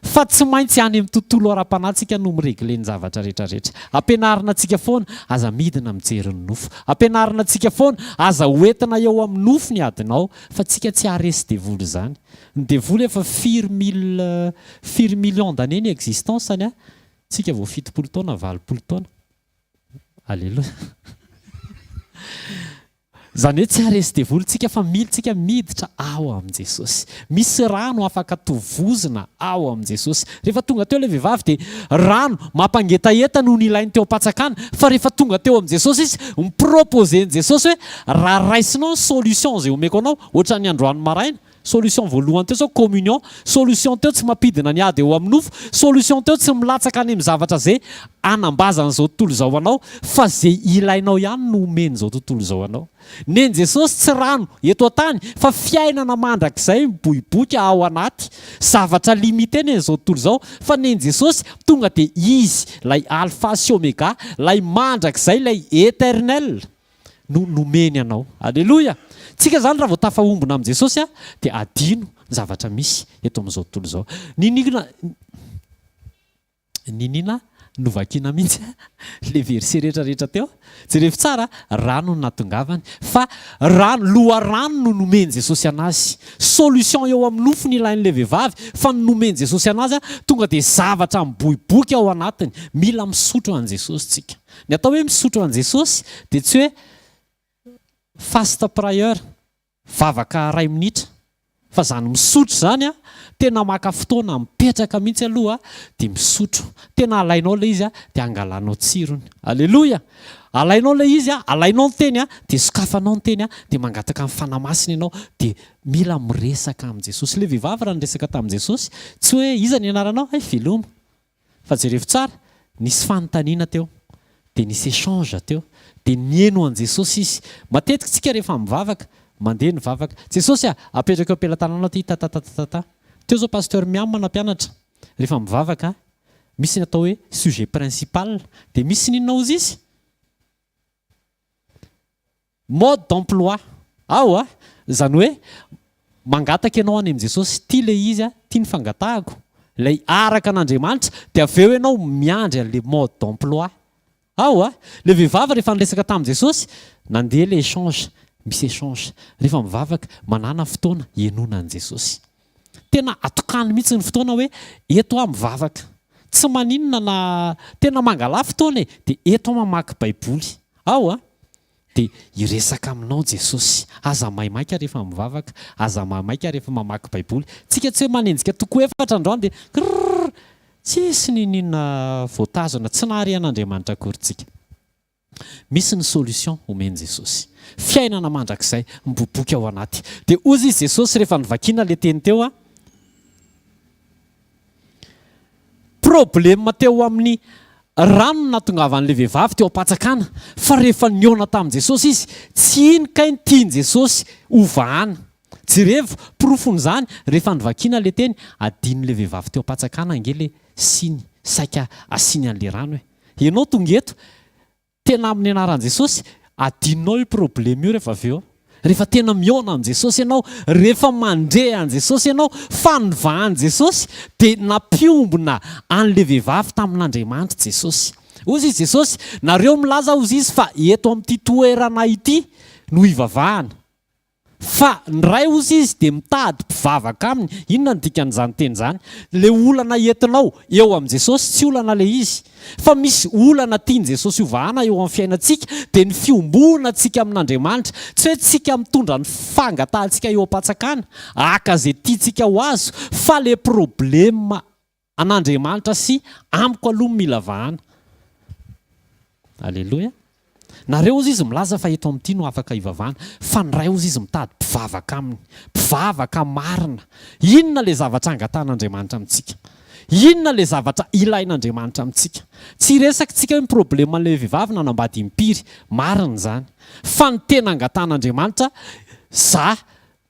Fa tsy maintsy any amin'ny tontolo ara-panahintsika no mi-regler ny zavatra rehetrarehetra. Ampianarina antsika foana, aza midina mijery ny nofo. Ampianarina antsika foana, aza ho entina eo amin'ny nofo ny adinao. Fa antsika tsy haharesy devoly izany. Ny devoly efa firy mille, firy millions d'années ny existence-ny an! Antsika vao fitopolo taona, valopolo taona. Aleloia. Izany hoe tsy haharesy devoly tsika fa mily tsika miditra ao amin'i Jesosy. Misy rano afaka tovozina ao amin'i Jesosy. Rehefa tonga teo ilay vehivavy dia rano mampangetaheta no nilainy teo am-pantsakana fa rehefa tonga teo amin'i Jesosy izy, mi-proposer an'i Jesosy hoe raha raisinao ny solution izay omeko anao, ohatran'ny androany maraina, Solution voalohany teo zao communion, solution teo tsy mampidina ny ady eo amin'ny nofo, solution teo tsy milatsaka any amin'ny zavatra ze anambazan'izao tontolo izao anao fa ze ilainao ihany no omen'izao tontolo izao anao. Nen'i Jesosy tsy rano eto an-tany fa fiainana mandrakizay miboiboika ao anaty zavatra limite nen'izao tontolo izao fa nen'i Jesosy tonga dia izy lay alpha sy omega lay mandrakizay lay eternel no nomeny anao. Aleloia! Tsika zany raha vao tafahombona amin'i Jesosy a, dia adino ny zavatra misy eto amin'izao tontolo izao. Niniana niniana novakina mihitsy le verset rehetra rehetra teo. Jerevo tsara a, rano no natongavany, fa rano, loharano no nomen'i Jesosy anazy. Solution eo amin'ny nofo nilain'ilay vehivavy, fa ny nomen'i Jesosy anazy a, tonga dia zavatra miboiboika ao anatiny. Mila misotro an'i Jesosy tsika. Ny atao hoe misotro an'i Jesosy dia tsy hoe fast prayer, vavaka iray minitra, fa izany misotro izany tena maka fotoana mipetraka mihitsy aloha dia misotro. Tena alainao ilay izy dia angalanao tsirony. Aleloia! Alainao ilay izy, alainao ny teny dia sokafanao ny teny dia mangataka ny Fanahy Masina ianao dia mila miresaka amin'i Jesosy. Ilay vehivavy raha niresaka tamin'i Jesosy, tsy hoe iza ny anaranao? Hay veloma. Fa jereo tsara, nisy fanontaniana teo, dia nisy échange teo, dia nihaino an'i Jesosy izy. Matetika isika rehefa mivavaka, mandeha ny vavaka, Jesosy a, apetrako eo am-pelatananao ity tatatatatata. Teo izao Pasteur Miam nampianatra, rehefa mivavaka, misy ny atao hoe sujet principal, dia misy ny inona hozy izy? Mode d'emploi aho a! Izany hoe mangataka ianao any amin'i Jesosy, ity ilay izy a, ity ny fangatahako, ilay araka an'Andriamanitra, dia avy eo ianao miandry an'ilay mode d'emploi aho a! Ilay vehivavy rehefa niresaka tamin'i Jesosy, nandeha ilay échange, misy échange, rehefa mivavaka, manàna fotoana hihainoana an'i Jesosy. Tena atokany mihitsy ny fotoana hoe eto aho mivavaka. Tsy maninona na tena mangalà fotoana e, dia eto aho mamaky Baiboly. Ao a! Dia hiresaka aminao Jesosy. Aza maimaika rehefa mivavaka, aza maimaika rehefa mamaky Baiboly. Tsika tsy hoe manenjika toko efatra androany dia krrrr! Tsisy n'inon'inona voatazona, tsy nahare an'Andriamanitra akory tsika. Misy ny solution homen'i Jesosy. Fiainana mandrakizay miboboky ao anaty. Dia hozy izy Jesosy rehefa novakiana ilay teny teo a. Problème teo amin'ny rano nahatongavan'ilay vehivavy teo am-patsakana fa rehefa nihaona tamin'i Jesosy izy, tsy iny kay ny tian'i Jesosy ho vahana. Jerevo porofon'izany rehefa novakiana ilay teny, adinon'ilay vehivavy teo am-patsakana ange ilay siny saika asiany an'ilay rano e. Ianao tonga eto, tena amin'ny anaran'i Jesosy, adinonao io probleme io rehefa avy eo. Rehefa tena mihaona amin'i Jesosy ianao, rehefa mandre an'i Jesosy ianao, fanivahan'i Jesosy, dia nampiombona an'ilay vehivavy tamin'Andriamanitra Jesosy. Hozy i Jesosy, nareo milaza hozy izy fa eto amin'ity toerana ity no hivavahana. Fa ny Ray hozy izy dia mitady mpivavaka aminy. Inona no dikan'izany teny izany? Ilay olana entinao eo amin'i Jesosy, tsy olana ilay izy. Fa misy olana tian'i Jesosy hovahana eo amin'ny fiainantsika, dia ny fiombonantsika amin'Andriamanitra. Tsy hoe tsika mitondra ny fangatahantsika eo am-pantsakana, haka izay tiantsika ho azo, fa ilay problema An'Andriamanitra sy amiko aloha no mila vahana. Aleloia. Nareo hozy izy milaza fa eto amin'ity no afaka hivavahana. Fa ny Ray hozy izy mitady mpivavaka aminy. Mpivavaka marina. Inona ilay zavatra angatahan'Andriamanitra amintsika? Inona ilay zavatra ilain'Andriamanitra amintsika? Tsy hiresakitsika hoe ny probleman'ilay vehivavy nanambady impiry. Marina izany. Fa ny tena angatahan'Andriamanitra, za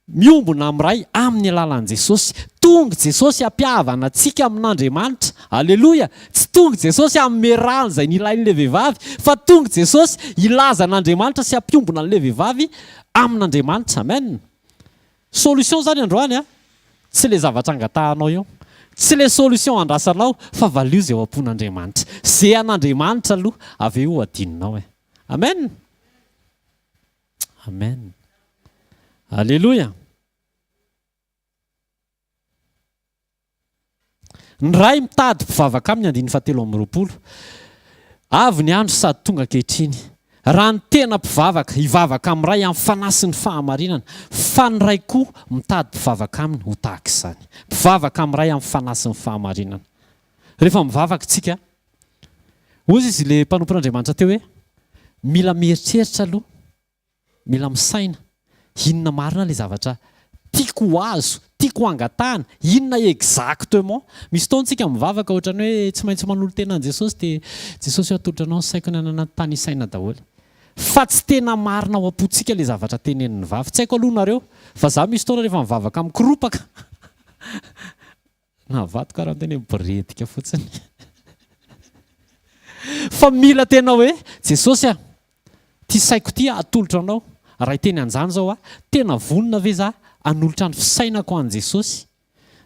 Miombona miray amin'ny alalan'i Jesosy. Tonga Jesosy hampihavana antsika amin'Andriamanitra. Aleloia! Tsy tonga Jesosy hanome rano izay nilain'ilay vehivavy, fa tonga Jesosy hilaza an'Andriamanitra sy hampiombona an'ilay vehivavy amin'Andriamanitra. Amen! Solution izany androany an! Tsy ilay zavatra angatahanao eo. Tsy ilay solution andrasanao, fa valio izay ao am-pon'Andriamanitra. Zeha an'Andriamanitra aloha, avy eo ho hadinonao e. Amen! Amen. Alléluia. Ny ray mitady mpivavaka aminy andininy fahatelo amby roapolo. Avy ny andro sady tonga ankehitriny. Raha ny tena mpivavaka, hivavaka amin'ny ray amin'ny fanahy sy ny fahamarinana. Fa ny ray koa mitady mpivavaka aminy ho tahaka izany. Mpivavaka amin'ny ray amin'ny fanahy sy ny fahamarinana. Rehefa mivavaka isika, Hoy izy ilay mpanompon'Andriamanitra teo hoe, mila mieritreritra aloha, mila misaina, inona marina ilay zavatra tiako ho azo, tiako ho angatahana, inona exactement? Misy fotoana isika mivavaka ohatran'ny hoe tsy maintsy manolo-tena an'i Jesosy dia Jesosy o atolotra anao ny saiko na na na, tany isaina daholo. Fa tsy tena marina ao am-pontsika ilay zavatra tenenin'ny vavy. Tsy haiko aloha nareo, fa za misy fotoana rehefa mivavaka mikoropaka. Navadika karaha ny teny hoe biredika fotsiny. Fa mila tena hoe, Jesosy a, ity saiko ity atolotra anao. Raha hiteny an'izany izao aho, tena vonona ve za hanolotra ny fisainako ho an'i Jesosy?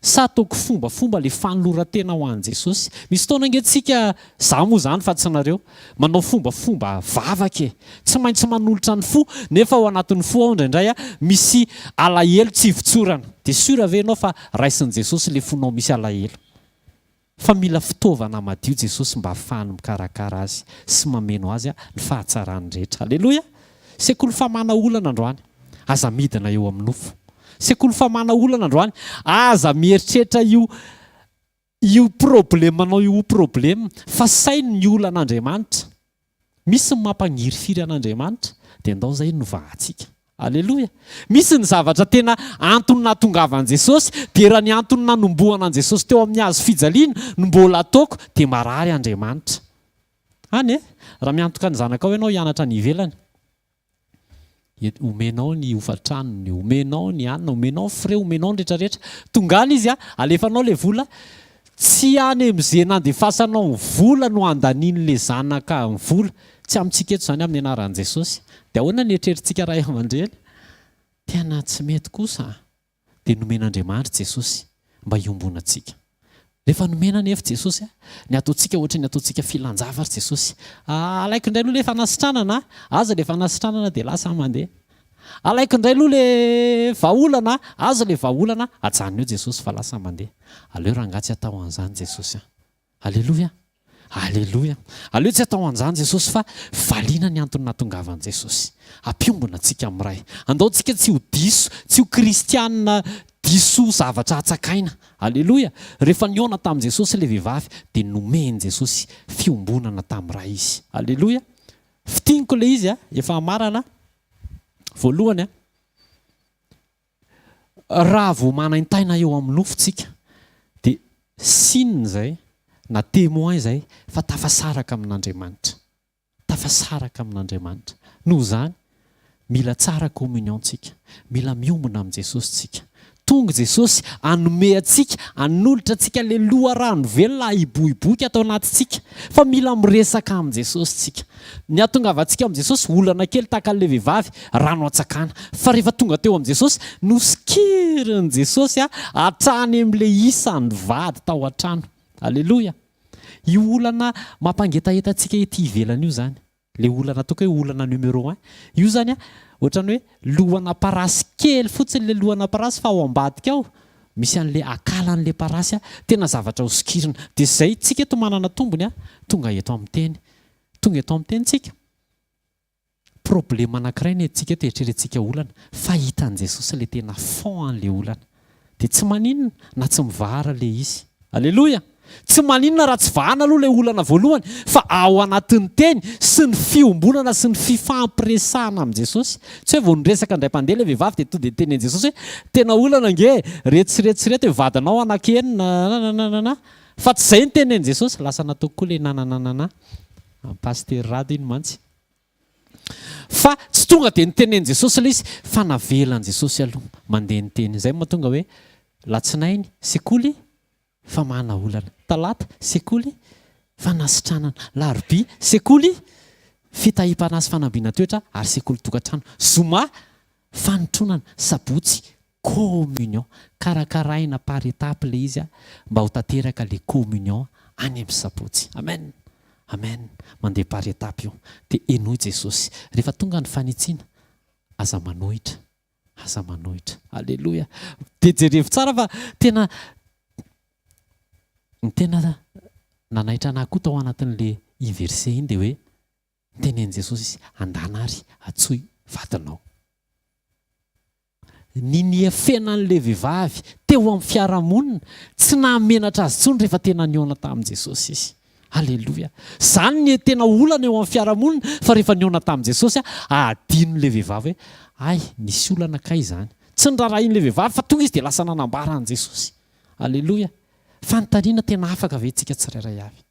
Sa ataoko fombafomba ilay fanoloran-tena ho an'i Jesosy? Misy fotoana ange tsika Za moa zany fa tsy nareo. Manao fombafomba vavaka e! Tsy maintsy manolotra ny fo nefa ao anatin'ny fo ao indraindray misy alahelo tsy ivotsorana. Dia sûr ve ianao fa raisin'i Jesosy le fonao misy alahelo? Fa mila fitaovana madio Jesosy mba afahany mikarakara azy sy mameno azy ny fahatsarany rehetra. Aleloia! Sekoly famana olana androany. Aza midina eo amin'ny nofo. Sekoly famana olana androany. Aza mieritreritra io. Io problemanao io problem fa saino ny olana Andriamanitra misy ny mampangirifiry an Andriamanitra dia ndao zay novahantsika Aleloia misy ny zavatra tena antony nahatongavan Jesosy dia raha ny antony nanombohana an Jesosy teo amin'ny hazo fijaliana no mbola ataoko dia marary Andriamanitra any e raha miantoka ny zanakao ianao hianatra any ivelany Eny, omenao ny hofan-tranony, omenao ny hanina, omenao ny frais, omenao ny rehetrarehetra. Tonga any izy, alefanao ilay vola, tsy any amin'izay nandefasanao ny vola no andanian'ilay zanaka ny vola. Tsy amintsika eto izany amin'ny anaran'i Jesosy. Dia ahoana ny eritreritsika ray aman-dreny? Tena tsy mety kosa. dia nomen'Andriamanitra Jesosy mba hiombonantsika. Rehefa nomena anefa Jesosy, ny ataontsika ohatra ny ataontsika filanjava ry Jesosy. Alaiko indray aloha ilay fanasitranana, aza ilay fanasitranana dia lasa aho mandeha. Alaiko indray aloha ilay vahaolana, aza ilay vahaolana, ajanony eo Jesosy fa lasa aho mandeha. Aleo rangaha tsy atao an'izany Jesosy a! Aleloia! Aleloia! Aleo tsy atao an'izany Jesosy fa valiana ny antony nahatongavan'i Jesosy. Hampiombona antsika amin'ny Ray. Andaontsika tsy ho diso, tsy ho kristiana diso zavatra hatsakaina. Aleloia! Rehefa nihaona tamin'i Jesosy ilay vehivavy dia nomen'i Jesosy fiombonana tamin'ny Ray izy. Aleloia! Fintiniko ilay izy efa hamarana voalohany. Raha vao manaintaina eo amin'ny nofo tsika dia signe izay na témoin izay fa tafasaraka amin'Andriamanitra. Tafasaraka amin'Andriamanitra. Noho izany, mila tsara communion tsika. Mila miombona amin'i Jesosy tsika. Tonga i Jesosy hanome antsika, hanolotra antsika ilay loharano velona hiboiboika ato anatintsika. Fa mila miresaka amin'i Jesosy tsika. Ny hahatongavantsika amin'i Jesosy olana kely tahaka an'ilay vehivavy rano antsakana. Fa rehefa tonga teo amin'i Jesosy, nosikirin'i Jesosy hatrany amin'ilay isan'ny vady tao an-trano. Aleloia! Io olana mampangetaheta antsika ety ivelany io izany, ilay olana ataoko hoe olana numéro un. Io izany ohatran'ny hoe lohana parasy kely fotsiny ilay lohana parasy fa ao ambadika ao misy an'ilay akalan'ilay parasy tena zavatra hosokirina. Dia izay, tsika eto manana tombony tonga eto amin'ny teny Tonga eto amin'ny tenintsika. Problème anankiray ny antsika eto eritreretintsika olana fa hitan'i Jesosy ilay tena fond an'ilay olana. Dia tsy maninona na tsy mivahara ilay izy. Aleloia! Tsy maninona raha tsy vahana aloha ilay olana voalohany fa ao anatin'ny teny sy ny fiombonana sy ny fifampiresahana amin'i Jesosy. Tsy hoe vao niresaka indray mpandeha ilay vehivavy dia tonga dia niteny an'i Jesosy hoe tena olana ange reto sy reto sy reto hoe vadinao anaky enina nanananana. Fa tsy izay ny tenin'i Jesosy, lasa natoky koa ilay nanananana an'i Pasitera Rado iny mantsy. Fa tsy tonga dia nitenenin'i Jesosy ilay izy, fa navelan'i Jesosy aloha mandeha niteny. Izay no mahatonga hoe, latsinainy, sekoly, famahana olana. Talata, sekoly, fanasitranana. Larobia, sekoly, fitahiam-panahy sy fanambiana toetra ary sekoly tokantrano. Zoma, fanotronana. Sabotsy, communion karakaraina par étape le izy mba ho tanteraka le communion any am sabotsy amen amen mandeha par étape io de henoy jesosy refa tonga ny fanitsiana aza manohitra aza manohitra aleloia de jerevo tsara fa tena ny tena nanaitra anah koa tao anatinle i verset iny de hoe Tenenin'i Jesosy izy, Andana ary atsoy vadinao. Ny niafena an'ilay vehivavy teo amin'ny fiarahamonina, tsy nahamenatra azy intsony rehefa tena nihaona tamin'i Jesosy izy. Aleloia! Izany no tena olana eo amin'ny fiarahamonina, fa rehefa nihaona tamin'i Jesosy, hadinon'ilay vehivavy hoe, Hay, nisy olana kay izany. Tsy noraharahian'ilay vehivavy, fa tonga izy dia lasa nanambara an'i Jesosy. Aleloia! Fanontaniana tena afaka ve isika tsirairay avy?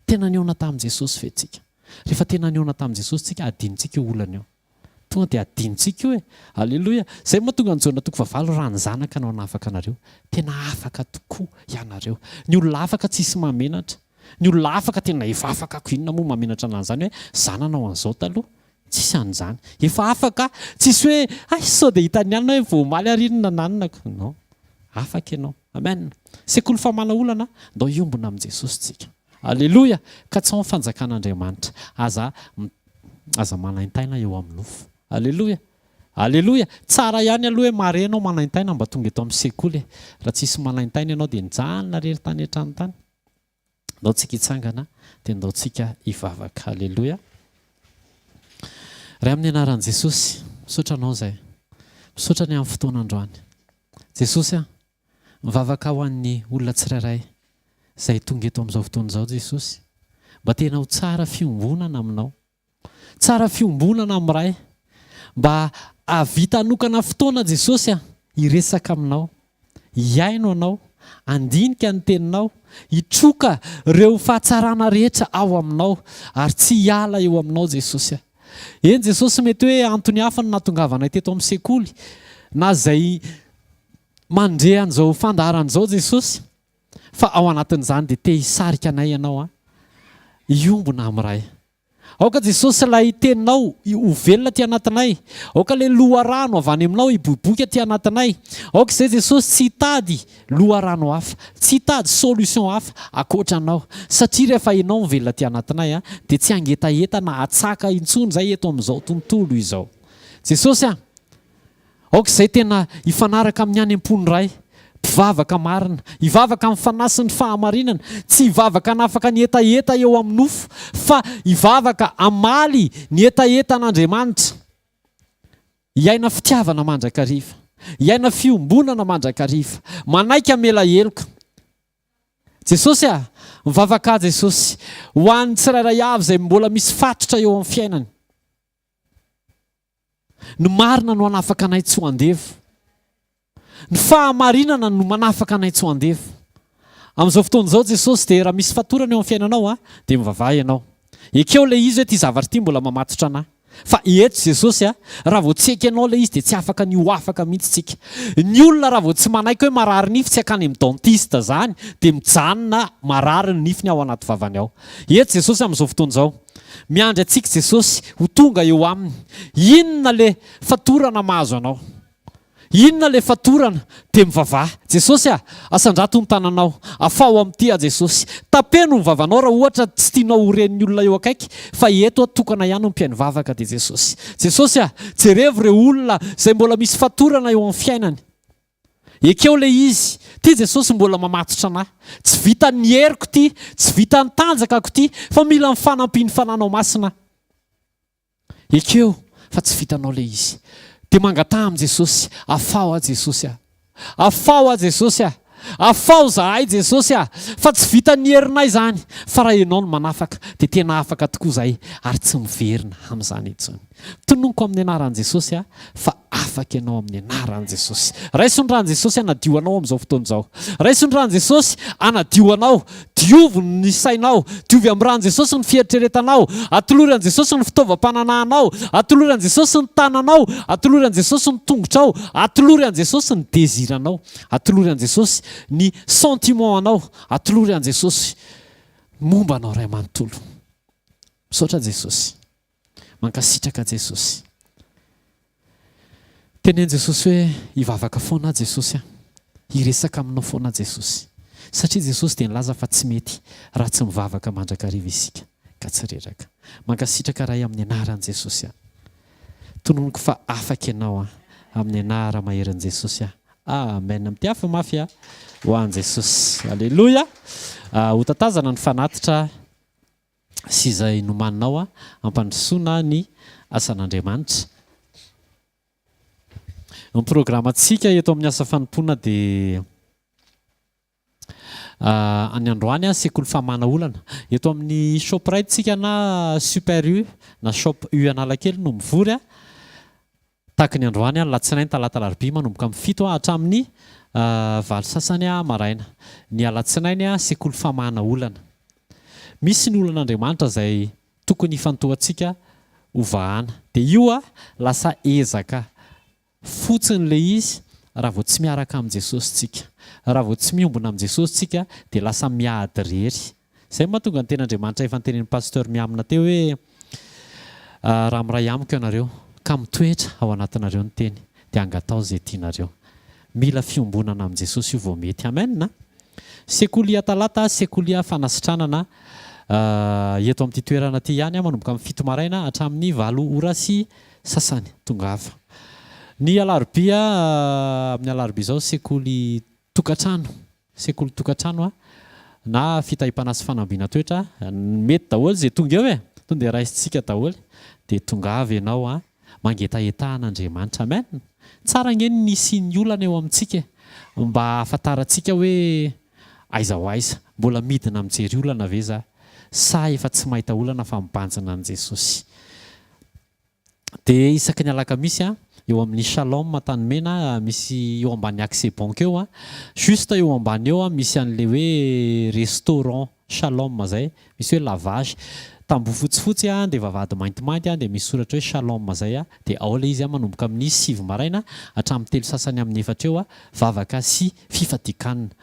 Tena nihaona tamin'i Jesosy ve tsika? Rehefa tena nihaona tamin'i Jesosy tsika, hadinontsika io olana io. Tonga dia hadinontsika io e! Aleloia! Izay mahatonga an'i Jaona toko fahavalo, Raha ny Zanaka no hanafaka anareo, tena afaka tokoa ianareo. Ny olona afaka tsisy mahamenatra. Ny olona afaka tena efa afaka ko inona moa mahamenatra anan'izany hoe zananao an'izao taloha? Tsisy an'izany. Efa afaka, tsisy hoe hay sao dia hitan'ny alina hoe vao omaly ary iny nananonako. Non. Afaka ianao. Amen. Sekoly famahana olana, ndao hiombona amin'i Jesosy tsika. Aleloia. Katsaho ny fanjakan'Andriamanitra. Aza aza manaintaina eo amin'ny nofo. Aleloia. Aleloia. Tsara ihany aloha hoe mare ianao manaintaina mba tonga eto amin'ny sekoly e. Raha tsisy manaintaina ianao dia nijanona rery tany hatrany tany. Ndao tsika hitsangana dia ndao tsika hivavaka. Haleloia. Ray amin'ny anaran'i Jesosy, misaotra anao izay. Misaotra ny amin'ny fotoana androany. Jesosy a, mivavaka ho an'ny olona tsirairay izay tonga eto amin'izao fotoana izao Jesosy. Mba tena ho tsara fiombonana aminao. Tsara fiombonana amin'ny Ray. Mba ahavita hanokana fotoana Jesosy an, hiresaka aminao. Hihaino anao, handinika ny teninao, hitroka ireo fahatsarana rehetra ao aminao ary tsy hiala eo aminao Jesosy an. Eny Jesosy mety hoe antony hafa no nahatongavanay teto amin'ny sekoly na izay mandre an'izao fandaharana izao Jesosy. Fa ao anatin'izany dia te hisarika anay ianao hiombona amin'ny Ray. Aoka Jesosy ilay Teninao ho velona aty anatinay. Aoka ilay loharano avy any Aminao hiboiboika aty anatinay. Aoka izay Jesosy tsy hitady loharano hafa, tsy hitady solution hafa ankoatra Anao. Satria rehefa Ianao mivelona aty anatinay dia tsy hangetaheta na hatsaka intsony izay eto amin'izao tontolo izao. Jesosy a! Aoka izay tena hifanaraka amin'ny any am-pon'ny Ray, mpivavaka marina, hivavaka amin'ny fanahy sy ny fahamarinana, tsy hivavaka hanafaka ny hetaheta eo amin'ny nofo, fa hivavaka hamaly ny hetaheta an'Andriamanitra, hiaina fitiavana mandrakariva, hiaina fiombonana mandrakariva, manaiky hamela heloka. Jesosy a! Mivavaka aho Jesosy, ho an'ny tsirairay avy izay mbola misy fatotra eo amin'ny fiainany. Ny marina no hanafaka anay tsy ho andevo. Ny fahamarinana no manafaka anay tsy ho andevo. Amin'izao fotoana izao Jesosy dia raha misy fatorana eo amin'ny fiainanao a, dia mivavaha ianao. Ekeo ilay izy hoe ity zavatra ity mbola mamatotra anà. Fa eto Jesosy a, raha vao tsy ekenao ilay izy dia tsy afaka ny ho afaka mihitsy tsika. Ny olona raha vao tsy manaiky hoe marary nify tsy hankany amin'ny dentiste izany dia mijanona marary ny nifiny ao anaty vavany ao. Eto Jesosy amin'izao fotoana izao. Miandry antsika Jesosy ho tonga eo aminy. Inona le fatorana mahazo anao? Inona le fatorana? Dia mivavaha, Jesosy ah, asandrato ny tananao, afaho amin'ity aho Jesosy. Tapeno ny vavanao raha ohatra tsy tianao ho ren'ny olona eo akaiky fa eto aho tokana ihany ho mpihaino vavaka dia Jesosy. Jesosy ah, jerevo ireo olona izay mbola misy fatorana eo amin'ny fiainany. Ekeo ilay izy, ity Jesosy mbola mamatotra anà. Tsy vitan'ny heriko ity, tsy vitan'ny tanjakako ity, fa mila ny fanampian'ny Fananao Masina aho. Ekeo fa tsy vitanao ilay izy. Dia mangataha amin'i Jesosy, Afaho aho Jesosy a! Afaho aho Jesosy a! Afaho izahay Jesosy a! Fa tsy vitan'ny herinay izany, fa raha Ianao no manafaka, dia tena afaka tokoa izahay, ary tsy miverina amin'izany intsony. Tononiko amin'ny anaran'i Jesosy aho fa afaka ianao amin'ny anaran'i Jesosy. Raiso ny ràn'i Jesosy hanadio anao amin'izao fotoana izao. Raiso ny ràn'i Jesosy hanadio anao. Diovy ny sainao. Diovy amin'ny ràn'i Jesosy ny fieritreretanao. Atolory an'i Jesosy ny fitaovam-pananahanao. Atolory an'i Jesosy ny tananao. Atolory an'i Jesosy ny tongotrao. Atolory an'i Jesosy ny désir-nao. Atolory an'i Jesosy ny sentiment-nao. Atolory an'i Jesosy ny momba anao iray manontolo. Misaotra Jesosy. Mankasitraka Jesosy. Teneno Jesosy hoe hivavaka foana aho Jesosy a. Hiresaka aminao foana aho Jesosy. Satria Jesosy dia nilaza fa tsy mety raha tsy mivavaka mandrakariva isika ka tsy reraka. Mankasitraka Ray amin'ny anaran'i Jesosy a. Tononiko fa afaka ianao a. Amin'ny anara maherin'i Jesosy a. Amen. Mpiafy mafy a. Ho an'i Jesosy. Aleloia. Ho tatazana ny fanatitra. sy izay nomaninao hampandrosoana ny asan'Andriamanitra. Ny programantsika eto amin'ny asa fanompoana dia ny androany sekoly famahana olana. Eto amin'ny Shoprite tsika na Super U na Shop U Analakely no mivory. Takin'ny androany, alatsinainy, talata, alarobia, manomboka amin'ny fito ha hatramin'ny valo sasany ha maraina. Ny alatsinainy, sekoly famahana olana. Misy ny olan'Andriamanitra izay tokony hifantohantsika ho vahana. Dia io ha, lasa ezaka fotsiny ilay izy raha vao tsy miaraka amin'i Jesosy tsika. Raha vao tsy miombona amin'i Jesosy tsika dia lasa miady irery. Izay no mahatonga ny Tenin'Andriamanitra efa notenenin'i Pasteur Mihamina teo hoe, Raha miray amiko ianareo, ka mitoetra ao anatinareo ny Teny, dia hangatao izay tianareo. Mila fiombonana amin'i Jesosy io vao mety. Amen! Sekolia Talata, Sekolia Fanasitranana, eto amin'ity toerana ity ihany, manomboka amin'ny fito maraina hatramin'ny valo ora sy sasany. Tongava. Ny Alarobia, amin'ny Alarobia izao, Sekoly Tokantrano. sekolin-tokantrano na fitahim-panahy sy fanambiana toetra, mety daholo izay tonga eo e! Tonga dia raisintsika daholo, dia tongava ianao an! mangetahetaha an'Andriamanitra. Amen! Tsara ange ny hisian'ny olana eo amintsika e! mba hahafantarantsika hoe aiza ho aiza. Mbola midina mijery olana ve za? sa efa tsy mahita olana fa mibanjina an'i Jesosy? Dia isaky ny alakamisy an, eo amin'ny Shalom Antanimena misy eo ambany Accès Banque eo an, juste eo ambany eo an, misy an'ilay hoe restaurant Shalom izay, misy hoe lavage. Tamboho fotsifotsy an, dia vavahady maintimainty an, dia misy soratra hoe Shalom izay an, dia ao ilay izy an, manomboka amin'ny sivy maraina hatramin'ny telo sasany amin'ny efatra eo an, vavaka sy fifadian-kanina.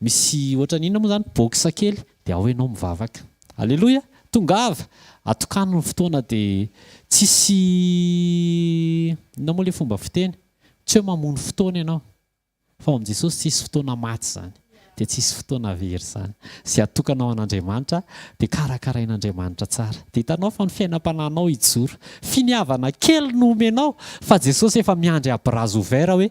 Misy ohatrany inona moa izany box kely dia ao ianao mivavaka. Aleloia! Tongava! Atokano ny fotoana dia tsisy inona moa ilay fomba fiteny? Tsy hoe mamono fotoana ianao fa ao amin'i Jesosy tsisy fotoana maty izany dia tsisy fotoana very izany. Izay atokana ho an'Andriamanitra dia karakarain'Andriamanitra tsara. Dia hitanao fa ny fiainam-panahinao hijoro. Finiavana kely no omenao fa Jesosy efa miandry à bras ouverts hoe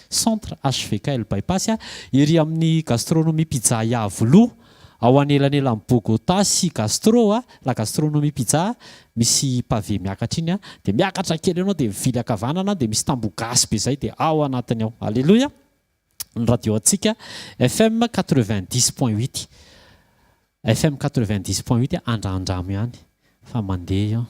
Centre HVK El Bypass, ery amin'ny Gastronomie Pizza Iavolo, ao anelanelan'i Bogotá sy Gastro, La Gastronomie Pizza, misy pavé miakatra iny, dia miakatra kely eo ianao dia mivily ankavanana dia misy tamboho gasy be izay dia ao anatiny ao. Aleloia! Ny radio antsika FM quatre-vingt-dix point huit. FM quatre-vingt-dix point huit andrandramo ihany fa mandeha io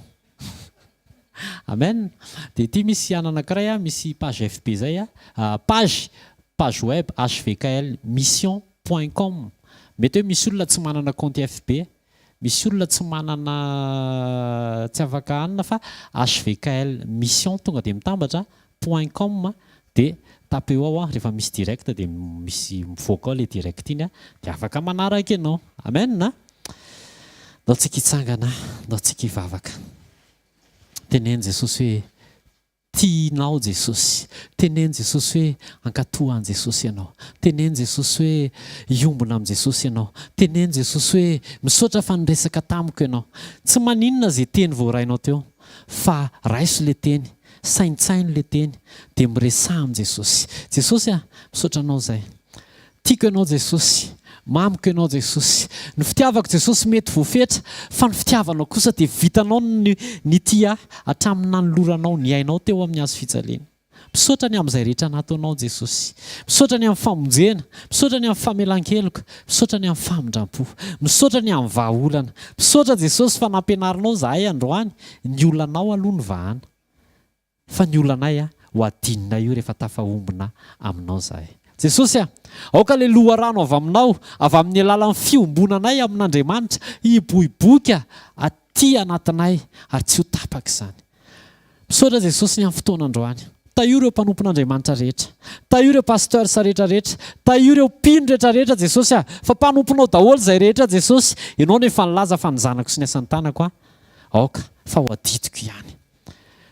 Amen dia ity misy an anankiray a misy page FB zay a page page web hvkl mission point com mety hoe misy olona tsy manana kaonty FB misy olona tsy manana tsy afaka hanina fa hvkl mission tonga dia mitambatra Point com dia tape eo ao an rehefa misy direct dia misy mivoaka ao ilay direct iny an dia afaka manaraka ianao. Amen an! Ndao tsika hitsangana an! Ndao tsika hivavaka. Teneno Jesosy hoe tianao Jesosy. Teneno Jesosy hoe ankato an'i Jesosy ianao. Teneno Jesosy hoe hiombona amin'i Jesosy ianao. Teneno Jesosy hoe misaotra fa niresaka tamiko ianao. Tsy maninona izay teny voarainao teo fa raiso ilay teny Saintsaino le teny de miresaha am Jesosy. Jesosy a! Misaotra anao zay. Tiako ianao Jesosy. Mamiko ianao Jesosy. Ny fitiavako Jesosy mety voafetra fa ny fitiavanao kosa dia vitanao ny nitia ahy hatramin'ny nanoloranao ny ainao teo amin'ny hazo fijaliana. Misaotra ny amin'izay rehetra nataonao Jesosy. Misaotra ny amin'ny famonjena. Misaotra ny amin'ny famelan-keloka. Misaotra ny amin'ny famindram-po. Misaotra ny amin'ny vahaolana. Misaotra Jesosy fa nampianarinao izahay androany Ny olanao aloha ny vahana fa ny olanay a ho adinonay io rehefa tafahombona aminao izahay. Jesosy a, aoka ilay loharano avy aminao, avy amin'ny alalan'ny fiombonanay amin'Andriamanitra, hiboiboika aty anatinay ary tsy ho tapaka izany. Misaotra Jesosy ny amin'ny fotoana androany. Tahio ireo mpanompon'Andriamanitra rehetra. Tahio ireo pasteurs rehetra rehetra. Tahio ireo mpino rehetra rehetra Jesosy a, fa mpanomponao daholo izay rehetra Jesosy, Ianao no efa nilaza fa ny zanako sy ny asan'ny tanako a. Aoka fa ho adidiko ihany.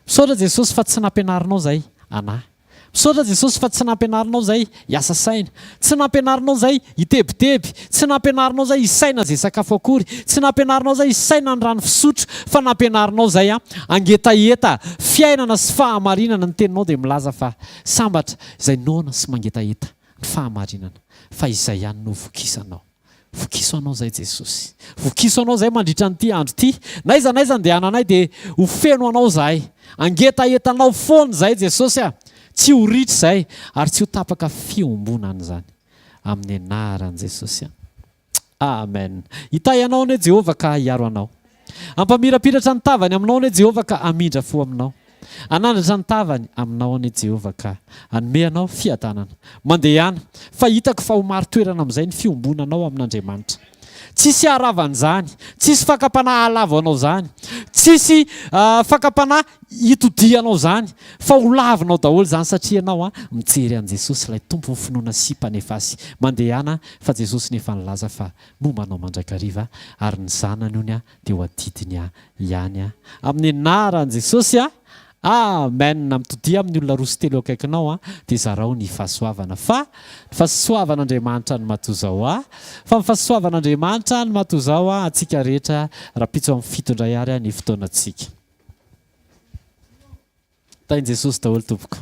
Misaotra Jesosy fa tsy nampianarinao zay anah. Misaotra Jesosy fa tsy nampianarinao zay hiasa saina. Tsy nampianarinao zay hitebiteby. Tsy nampianarinao zay hisaina ze sakafo akory. Tsy nampianarinao zay hisaina ny rano fisotro. Fa nampianarinao zay an hangetaheta fiainana sy fahamarinana. Ny teninao dia milaza fa sambatra izay noana sy mangetaheta ny fahamarinana fa izay ihany no ho vokisanao. Vokiso anao izay Jesosy. Vokiso anao izay mandritra an'ity andro ity. N'aiza n'aiza andehananay dia ho feno anao izahay. Angetaheta anao foana izahay Jesosy a! Tsy ho ritra izay ary tsy ho tapaka fiombonana izany. Amin'ny anaran'i Jesosy. Amen. Hitahy anao anie Jehovah ka hiaro anao. Hampamirapiratra ny tavany aminao anie Jehovah ka hamindra fo aminao. Hanandratra ny tavany aminao anie Jehovah ka hanome anao fiadanana. Mandehana, fa hitako fa ho marin-toerana amin'izay ny fiombonanao amin'Andriamanitra. Tsisy haharava an'izany, tsisy fakam-panahy hahalavo anao izany, tsisy fakam-panahy hitodiha anao izany, fa ho lavinao daholo izany satria ianao mijery an'i Jesosy ilay Tompon'ny finoana sy Mpanefasy. Mandehana, fa Jesosy no efa nilaza fa momba anao mandrakariva ary ny zanany honya teo adidiny ihany amin'ny anaran'i Jesosy amen mitodia amin'ny olona roa sy telo eo akaikinao dia zarao ny fahasoavana fa ny fasoavan'Andriamanitra ny matoa zao fa ny fasoavan'Andriamanitra ny matoa zao antsika rehetra rapitso amin'ny fito indray ary ny fotoanantsika tahin'i Jesosy daholo tompoko.